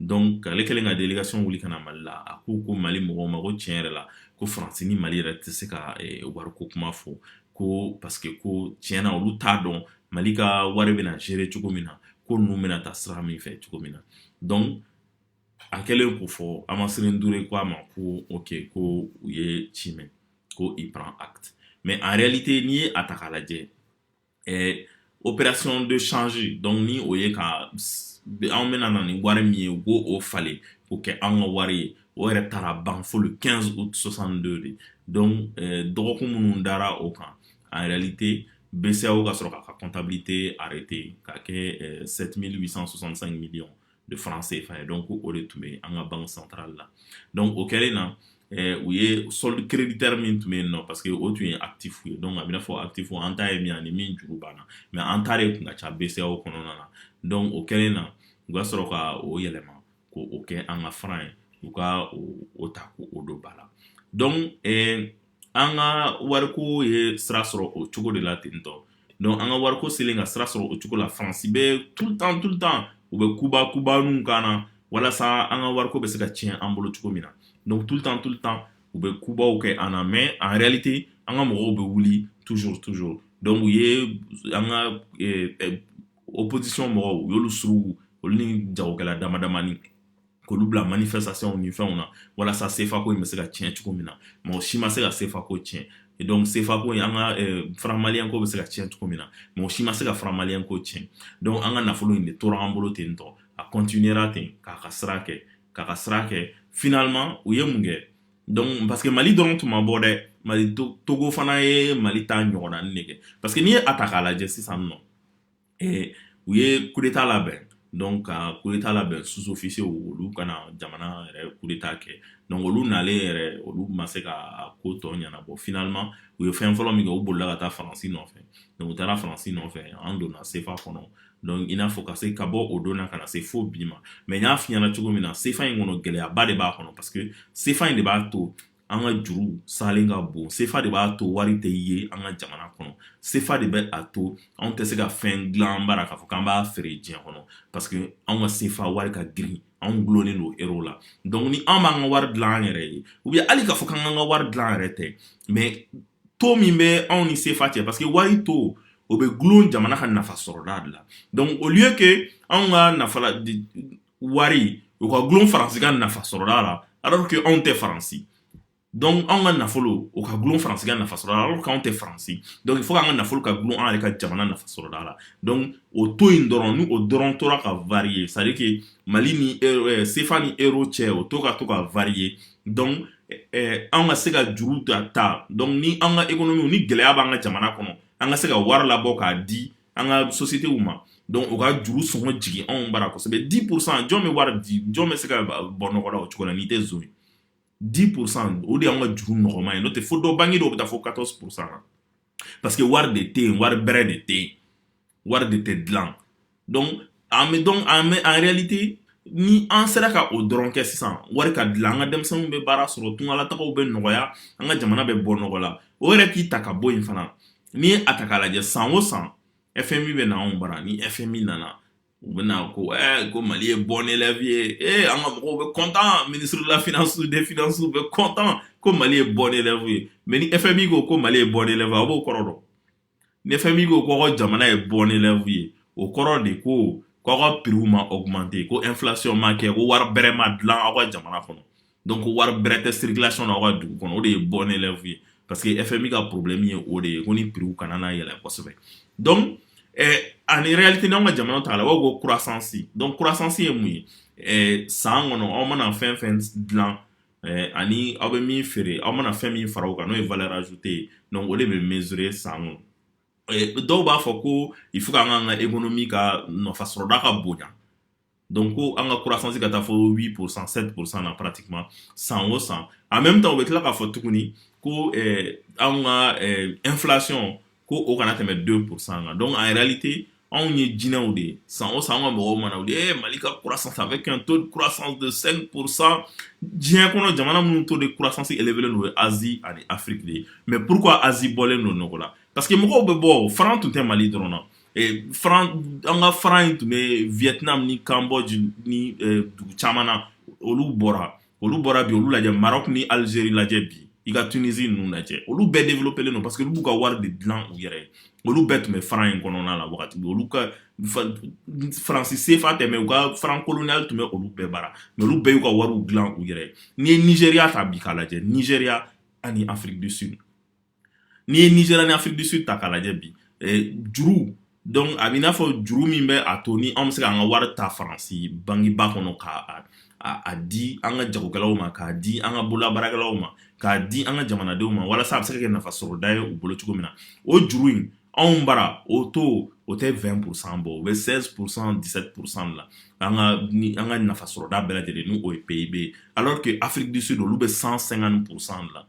[SPEAKER 1] dɔnku ale kɛlen ka délégation wuli ka na mali la a ko ko mali mɔgɔw ma ko tiɲɛ yɛrɛ la ko faransi ni mali yɛrɛ tɛ se ka eh, wariko kuma fɔ ko paske ko tiɲɛ na olu t'a dɔn mali ka wari bɛna gérer cogo min na ko ninnu bɛna ta sira min fɛ cogo min na dɔnku a kɛlen k'o fɔ Hamaciré N'Douré ko a ma ko ok ko u ye ci mɛn ko il prend acte mais en réalité n'i ye a ta k'a lajɛ ɛɛ opération de change donc ni o ye ka anw bɛna na ni wari min ye u k'o falen k'o kɛ anw ka wari ye o yɛrɛ taara ban fo le 15 août 62 de donc ɛɛ dɔgɔkun minnu dara o kan en réalité BCEAO ka sɔrɔ k'a ka comptabilité arrêter k'a kɛ ɛɛ 7865 millions de francs CFA ye donc o de tun bɛ an ka banque centrale la donc o kɛlen na u ye solde créditeur min tun bɛ yen nɔ parce que o tun ye actif ye donc a bɛ n'a fɔ actif an ta ye min ani min juru b'an na mais an ta de tun ka ca BCEAO kɔnɔna na donc o kɛlen na u ka sɔrɔ ka o yɛlɛma k'o kɛ an ka franc ye u ka o ta k'o don ba la donc an ka wariko ye sira sɔrɔ o cogo de la ten tɔ dɔnku an ka wariko selen ka sira sɔrɔ o cogo la faransi bɛ tout le temps tout le temps u bɛ kuba kubaw k'an na walasa an ka wariko bɛ se ka tiɲɛ an bolo cogo min na dɔnku tout le temps tout le temps u bɛ kubaw kɛ an na mais en réalité an ka mɔgɔw bɛ wuli toujours toujours dɔnku u ye an ka opposition mɔgɔw u y'olu surugu olu ni jagokɛla damadamani k'olu bila manifestation ni fɛnw na walasa sefa ko in bɛ se ka tiɲɛ cogo min na mɔgɔ si ma se ka sefa ko tiɲɛ donc sefa ko in an ka eh, franc malien ko bɛ se ka tiɲɛ cogo min na mɔgɔ si ma se ka franc malien ko tiɲɛ donc an ka nafolo in de tora an bolo ten tɔ a continuera ten k'a ka sira kɛ k'a ka sira kɛ finalement u ye mun kɛ donc parce que mali dɔrɔn tun ma bɔ dɛ mali togo fana ye mali ta ɲɔgɔnna de kɛ parce que n'i ye a ta k'a lajɛ sisan nɔ ee u ye coup d'état labɛn donc ka coup d'état labɛn sous-officiers olu ka na jamana yɛrɛ coup d'état kɛ donc olu nalen yɛrɛ olu ma se ka ko tɔ ɲɛnabɔ finalement u ye fɛn fɔlɔ min kɛ u bolila ka taa faransi nɔfɛ donc u taara faransi nɔfɛ an donna sefa kɔnɔ donc i n'a fɔ ka se ka bɔ o don na ka na se fo bi ma mais n y'a f'i ɲɛna cogo min na sefa in kɔnɔ gɛlɛyaba de b'a kɔnɔ parce que sefa in de b'a to an ka juru salen ka bon sefa de b'a to wari tɛ ye an ka jamana kɔnɔ sefa de bɛ a to anw tɛ se ka fɛn dilan an bara k'a fɔ k'an b'a feere diɲɛ kɔnɔ parce que anw ka sefa wari ka girin anw gulonnen don euro la donc ni an b'an ka wari dilan an yɛrɛ ye ou bien hali k'a fɔ k'an k'an ka wari dilan an yɛrɛ tɛ mais taux min bɛ anw ni sefa cɛ parce que wari taux o bɛ gulon jamana ka nafa sɔrɔda de la donc au lieu que anw ka nafa wari o ka gulon faransi ka nafa sɔrɔda la alors que anw tɛ faransi donc anw ka nafolo o ka gulon faransi ka nafa sɔrɔda la alors que anw tɛ faransi donc il faut k'an ka nafolo ka gulon an yɛrɛ ka jamana nafa sɔrɔda la donc o taux in dɔrɔn ni o dɔrɔn tora ka varier c'est à dire que mali ni euh, sefa ni euro cɛ o taux ka to ka varier donc eh, an ka se ka juru ta ta donc ni an ka économie ni gɛlɛya b'an ka jamana kɔnɔ an ka se ka wari labɔ k'a di an ka sociétéw ma donc o ka juru sɔngɔ jigin anw bara kosɛbɛ dix pour cent jɔn bɛ wari di jɔn bɛ se ka bɔ nɔgɔ la o cogo la n'i tɛ zon ye dix pour cent o de y'an ka juru nɔgɔma ye n'o tɛ fo dɔ banque dɔw bɛ taa fo quatorze pour cent na parce que wari de tɛ yen wari bɛrɛ de tɛ yen wari de tɛ dilan donc donc en réalité ni an sera ka o dɔrɔn kɛ sisan wari ka dilan an ka denmisɛnninw bɛ baara sɔrɔ tungalatagaw bɛ nɔgɔya an ka jamana bɛ bɔ nɔgɔ la o yɛrɛ k'i ta ka bɔ yen fana n'i ye a ta k'a lajɛ san o san fmi bɛ na anw bara ni fmi nana u bɛna ko ɛɛ ko mali ye bon élève ye ee an ka mɔgɔw bɛ content ministre de la finance des finances bɛ content ko mali ye bon élève ye mais ni fmi ko ko mali ye bon élève a b'o kɔrɔ dɔn ni fmi ko ko jamana ye bon élève ye o kɔrɔ de ko k'aw ka prixw ma augmenter ko inflation ma kɛ ko wari bɛrɛ ma dilan aw ka jamana kɔnɔ donc wari bɛrɛ tɛ circulation na aw ka dugu kɔnɔ o de ye bon élève ye parce que fmi ka problème ye o de ye ko ni prixw kana na yɛlɛ kosɛbɛ donc eh, en réalité n'anw ka jamana ta la b'a ko croissance donc croissance ye mun ye eh, san kɔnɔ aw mana fɛn fɛn dilan ani aw bɛ min feere aw mana fɛn min fara kan n'o ye vlɛrajte ye dɔn o de bɛ msirire san dɔw b'a fɔ ko i fo ka kan ka e kɔnɔ min ka nafa sɔrɔda ka bon don ko an ka kurasansi ka taa fɔ wbi psan setursan na pati san o san a mɛ bɛ taa u bɛ tila k'a fɔ tuguni ko an ka nfilac ko o kana tɛmɛ don psan kan dɔn a yɛrɛli tɛ anw ye jinɛinɛw de ye san o san ka mɔgɔw mana u ye mali ka kurasan a bɛ kan to kurasan psan diɲɛ kɔnɔ jamana minnu to de kurasansi eele don ye az ani afiri de ye mɛ pur az bɔlen don nɔgɔ la pa que mɔgɔw bɛ bɔ fran tun tɛ mali dɔrɔn na an ka fara in tun bɛ vtina ni kanbɔ ni dugu caman na olu bɔra olu bɔra bi olu lajɛ maroc ni algérie lajɛ bi i ka tunisie ninnu lajɛ olu bɛɛ développelen don parce que olu b'u ka wari de dilan u yɛrɛ ye olu bɛɛ tun bɛ faran in kɔnɔna la wagati bɛ olu ka faransi sefa tɛ mais u ka faran koloniyali tun bɛ olu bɛɛ bara mais olu bɛɛ y'u ka wariw dilan u yɛrɛ ye n'i ye nigeria ta bi k'a lajɛ nigeria ani afrique du sud n'i ye nigeria ni afrique du sud ta k'a lajɛ bi juru donc a b'i n'a fɔ juru min bɛ a to ni anw bɛ se k'an ka wari ta faransi bankiba kɔnɔ k'a di an ka jagokɛlaw ma k'a di an ka bololabaarakɛlaw ma k'a di an ka jamanadenw ma walasa a bɛ se ka kɛ nafa sɔrɔda ye u bolo cogo min na o juru in anw bara o taux o tɛ vingt pour cent bɔ o bɛ seize pour cent dix-sept pour cent la an ka nafa sɔrɔda bɛɛ lajɛlen n'o ye pib ye alors que afrique du sud olu bɛ cent cinquante pour cent la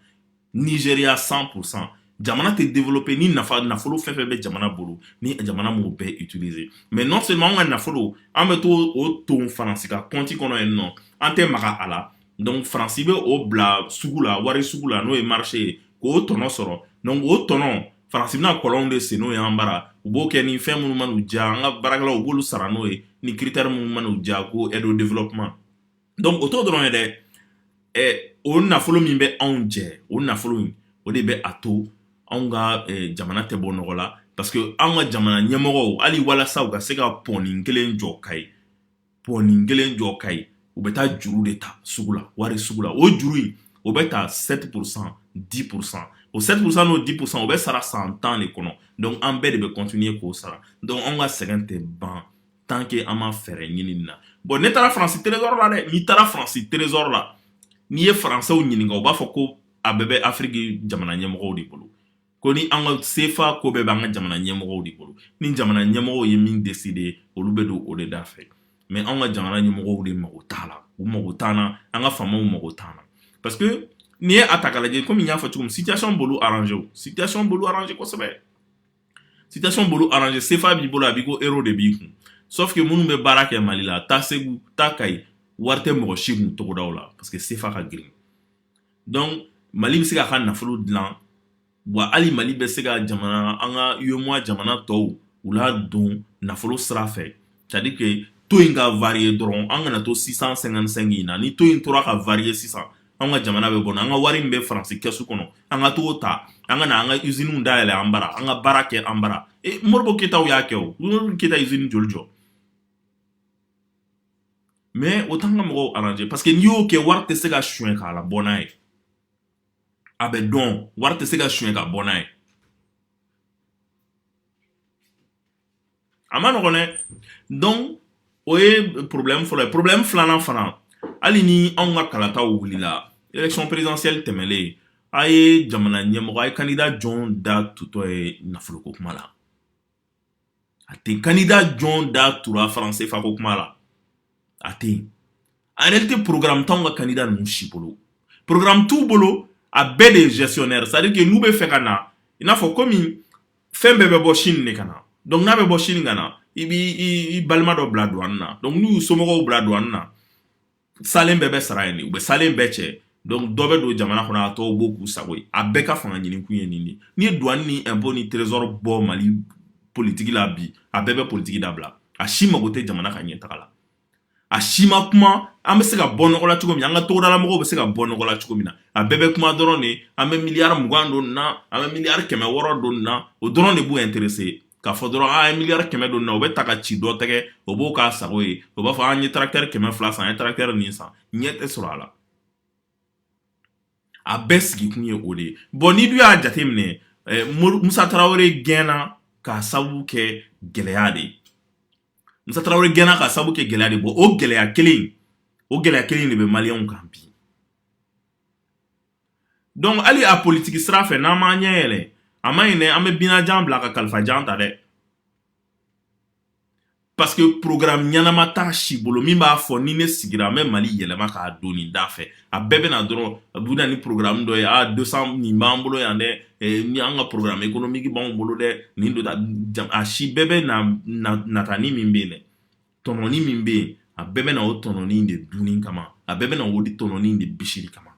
[SPEAKER 1] nigeria cent pour cent jamana tɛ développer ni nafolo fɛn fɛn bɛ jamana bolo ni jamana m'o bɛɛ utiliser mais non seulement an ka nafolo an bɛ to o ton faransi ka kɔnti kɔnɔ yen nɔ an tɛ maga a la donc faransi bɛ o bila sugu la wari sugu la n'o ye marché ye k'o tɔnɔ sɔrɔ donc o tɔnɔ faransi bɛna kɔlɔnw de sen n'o ye an bara u b'o kɛ ni fɛn minnu man'u diya an ka baarakɛlaw u b'olu sara n'o ye ni critère minnu man'u diya ko aide au développement donc o t'o dɔrɔn ye dɛ ɛ o nafolo min bɛ anw jɛ o nafolo in o de bɛ a to anw ka jamana tɛ bɔ nɔgɔ la parce que anw ka jamana ɲɛmɔgɔw hali walasa u ka se ka pɔnin kelen jɔ ka ye pɔnin kelen jɔ ka ye u bɛ taa juru de ta sugu la wari sugu la o juru in o bɛ ta sept pour cent dix pour cent o sept pour cent n'o dix pour cent o bɛ sara san tan de kɔnɔ donc an bɛɛ de bɛ continuer k'o sara donc anw ka sɛgɛn tɛ ban tant que an ma fɛɛrɛ ɲini nin na bon ne taara faransi trésor la dɛ n'i taara faransi trésor la n'i ye faransɛw ɲininka u b'a fɔ ko a bɛɛ bɛ afiriki jamana ɲɛmɔgɔw de bolo ko ni an ka sefa ko bɛɛ b'an ka jamana ɲɛmɔgɔw de bolo ni jamana ɲɛmɔgɔw ye min décider olu bɛ don o de da fɛ mais an ka jamana ɲɛmɔgɔw de mago t'a la u mago t'an na an ka faamaw mago t'an na parce que n'i ye a ta k'a lajɛ kɔmi n y'a fɔ cogo min situation b'olu arranger situation b'olu arranger kosɛbɛ situation b'olu arrangé sefa b'i bolo a b'i ko euro de b'i kun sauf que minnu bɛ baara kɛ mali la taa segu taa kayi wari tɛ mɔgɔ si kun togodaw la parce que sefa ka girin donc mali bɛ se k'a ka nafolo dilan wa hali mali bɛ se ka jamana an ka UEMOA jamana tɔw u la don nafolo sira fɛ c'est à dire que taux in ka varier dɔrɔn an kana to six cent cinquante-cinq in na ni taux in tora ka varier sisan an ka jamana bɛ bɔ an ka wari min bɛ faransi kɛsu kɔnɔ an ka t'o ta an ka na an ka iziniw da yɛlɛ an bara an ka baara kɛ an bara e modibo keyitaw y'a kɛ o keyita izini joli jɔ mais o t'an ka mɔgɔw arranger parce que n'i y'o kɛ wari tɛ se ka suɲɛ k'a labɔ n'a ye a bɛ dɔn wari tɛ se ka suɲɛ ka bɔ n'a ye a ma nɔgɔn dɛ donc o ye porobilɛmu fɔlɔ ye porobilɛmu filanan fana hali ni anw ka kalataw wulila élection présidentielle tɛmɛlen a ye jamana ɲɛmɔgɔ a ye candidat jɔn da tutɔ ye nafoloko kuma la a tɛ candidat jɔn da tura franc sefa ko kuma la a tɛ yen en réalité programme t'anw ka candidat ninnu si bolo programme t'u bolo a bɛɛ de ye gestionnaire c'est à dire que n'u bɛ fɛ ka na i n'a fɔ komi fɛn bɛɛ bɛ bɔ Chine de ka na donc n'a bɛ bɔ Chine ka na i b'i i balima dɔ bila douane na donc n'u y'u somɔgɔw bila douane na salen bɛɛ bɛ sara yen de u bɛ salen bɛɛ cɛ donc dɔ bɛ don jamana kɔnɔ a tɔw b'o k'u sago ye a bɛɛ ka fanga ɲini kun ye nin de n'i ye douane ni impôt ni trésor bɔ mali politigi la bi a bɛɛ bɛ politigi dabila a si mago tɛ jamana ka ɲɛtaga la a si ma kuma an bɛ se ka bɔ nɔgɔ la cogo min an ka togodalamɔgɔw bɛ se ka bɔ nɔgɔ la cogo min na a bɛɛ bɛ kuma dɔrɔn de an bɛ miliyari mugan don na an bɛ miliyari kɛmɛ wɔɔrɔ don na o dɔrɔn de b'u intéresser k'a fɔ dɔrɔn an ye miliyari kɛmɛ don na o bɛ ta ka ci dɔ tɛgɛ o b'o k'a sago ye o b'a fɔ an ye tracteur kɛmɛ fila san an ye tracteur nin san ɲɛ tɛ sɔrɔ a la a bɛɛ sigikun ye o de ye bon n'i dun y'a jateminɛ eh, musa tarawele gɛnna k'a sabu kɛ gɛlɛya de ye musa tarawele gɛnna k'a sabu kɛ gɛlɛya de bon o gɛlɛya kelen o gɛlɛya kelen de bɛ maliyɛnw kan bi donc hali a politiki sira fɛ n'an m'an ɲɛ yɛlɛ a man ɲi dɛ an bɛ binajan bila ka kalifajan ta dɛ parce que programme ɲɛnama t'a si bolo min b'a fɔ ni ne sigira an bɛ mali yɛlɛma k'a don nin da fɛ a bɛɛ bɛ na dɔrɔn a bɛ na ni programme dɔ ye a 200 nin b'an bolo yan dɛ eh, ni an ka programme économique b'anw bolo dɛ nin don a si bɛɛ bɛ na natani min bɛ yen dɛ tɔnɔni min bɛ yen a bɛɛ bɛ na o tɔnɔni de dunni kama a bɛɛ bɛ na o de tɔnɔni de bisiri kama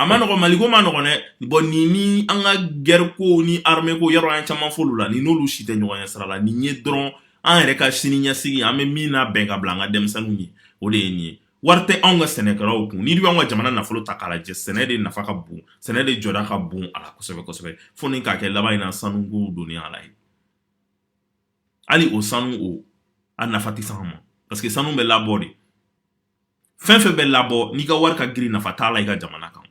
[SPEAKER 1] a ma nɔgɔ maliko ma nɔgɔ dɛ bɔn nin ni an ka gɛrɛ ko ni armée ko yɔrɔ y'a caman f'olu la nin n'olu si tɛ ɲɔgɔn ye sira la nin ye dɔrɔn an yɛrɛ ka sini ɲɛsigi an bɛ min labɛn ka bila an ka denmisɛnninw ye o de ye nin ye wari tɛ anw ka sɛnɛkɛlaw kun n'i y'an ka jamana nafolo ta k'a lajɛ sɛnɛ de nafa ka bon sɛnɛ de jɔda ka bon a la kosɛbɛ kosɛbɛ fo ni k'a kɛ laban in na sanuko don a la ye hali o sanu o a nafa tɛ s'an ma parce que sanu bɛ labɔ de fɛn fɛn bɛ labɔ n'i ka wari ka girin nafa t'a la i ka jamana kan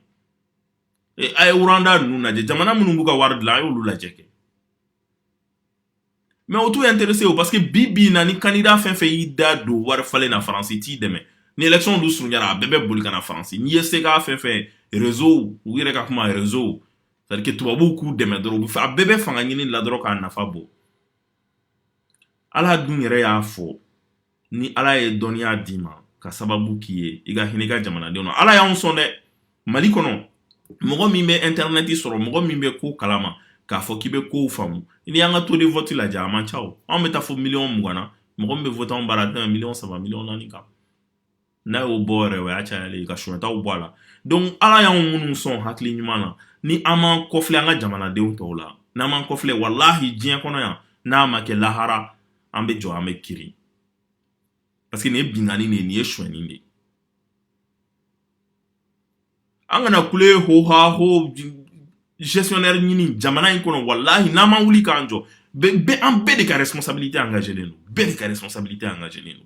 [SPEAKER 1] a ye rwanda ninnu lajɛ jamana minnu b'u ka wari dilan a y'olu lajɛ kɛ mais o t'u intéressé o parce que bi bi in na ni candidat fɛn fɛn y'i da don wari falen na faransi t'i dɛmɛ ni élection dun surunyara a bɛɛ bɛ boli ka na faransi n'i ye se ka fɛn fɛn réseau u yɛrɛ ka kuma réseau c'est à dire que tubabuw k'u dɛmɛ dɔrɔn u bɛ fɛ a bɛɛ bɛ fanga ɲini la dɔrɔn k'a nafa bɔ ala dun yɛrɛ y'a fɔ ni ala ye dɔnniya d'i ma k'a sababu k'i ye i ka hinɛ i ka jamanadenw na ala y'anw sɔn dɛ mali kɔnɔ mɔgɔ min bɛ intɛrɛnɛti sɔrɔ mɔgɔ min bɛ ko kalama k'a fɔ k'i bɛ kow faamu n'i y'an ka taux de vote lajɛ a man ca anw bɛ taa fo miliyɔn mugan na mɔgɔ min bɛ voté anw bara tɛmɛ miliyɔn saba miliyɔn naani kan n'a y'o bɔ yɛrɛ o y'a cayalen ye ka sonyɛtaw bɔ a la donc ala y'anw minnu sɔn hakili ɲuman na ni an m'an kɔfilɛ an ka jamanadenw tɔw la n'an m'an kɔfilɛ walahi diɲɛ kɔnɔ yan n'a ma kɛ lahara an bɛ jɔ an bɛ kiiri parce que nin ye binkanni de ye nin ye sonyɛni de ye an kana kule hoha ho gestionnaire ɲini jamana in kɔnɔ walahi n'an ma wuli k'an jɔ bɛ an bɛɛ de ka responsabilité engagé len don bɛɛ de ka responsabilité engagé len don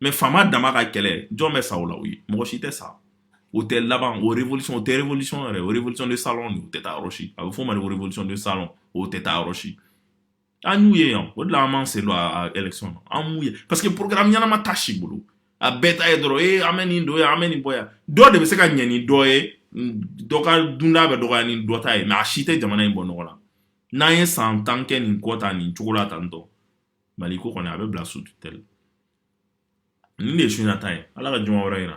[SPEAKER 1] mais faama dama ka kɛlɛ jɔn bɛ sa o la u ye mɔgɔ si tɛ sa o tɛ laban o révolution o tɛ révolution yɛrɛ o révolution de salon de o tɛ taa yɔrɔ si a bɛ fɔ o ma de révolution de salon o tɛ taa yɔrɔ si an y'u ye yan o de la an m'an sen don a élection na an m'u ye parce que programme ɲɛnama t'a si bolo a bɛɛ ta ye dɔrɔn e an bɛ nin don yen an bɛ nin bɔ yan dɔ de bɛ se ka ɲɛ ni dɔ ye dɔ ka dunda bɛ dɔgɔya ni dɔ ta ye mais a si tɛ jamana in bɔ nɔgɔ la n'an ye san tan kɛ nin kɔ tan nin cogo la tan n dɔn maliko kɔni a bɛ bila sous tutelle nin de ye su in na ta ye ala ka juma wɛrɛ yira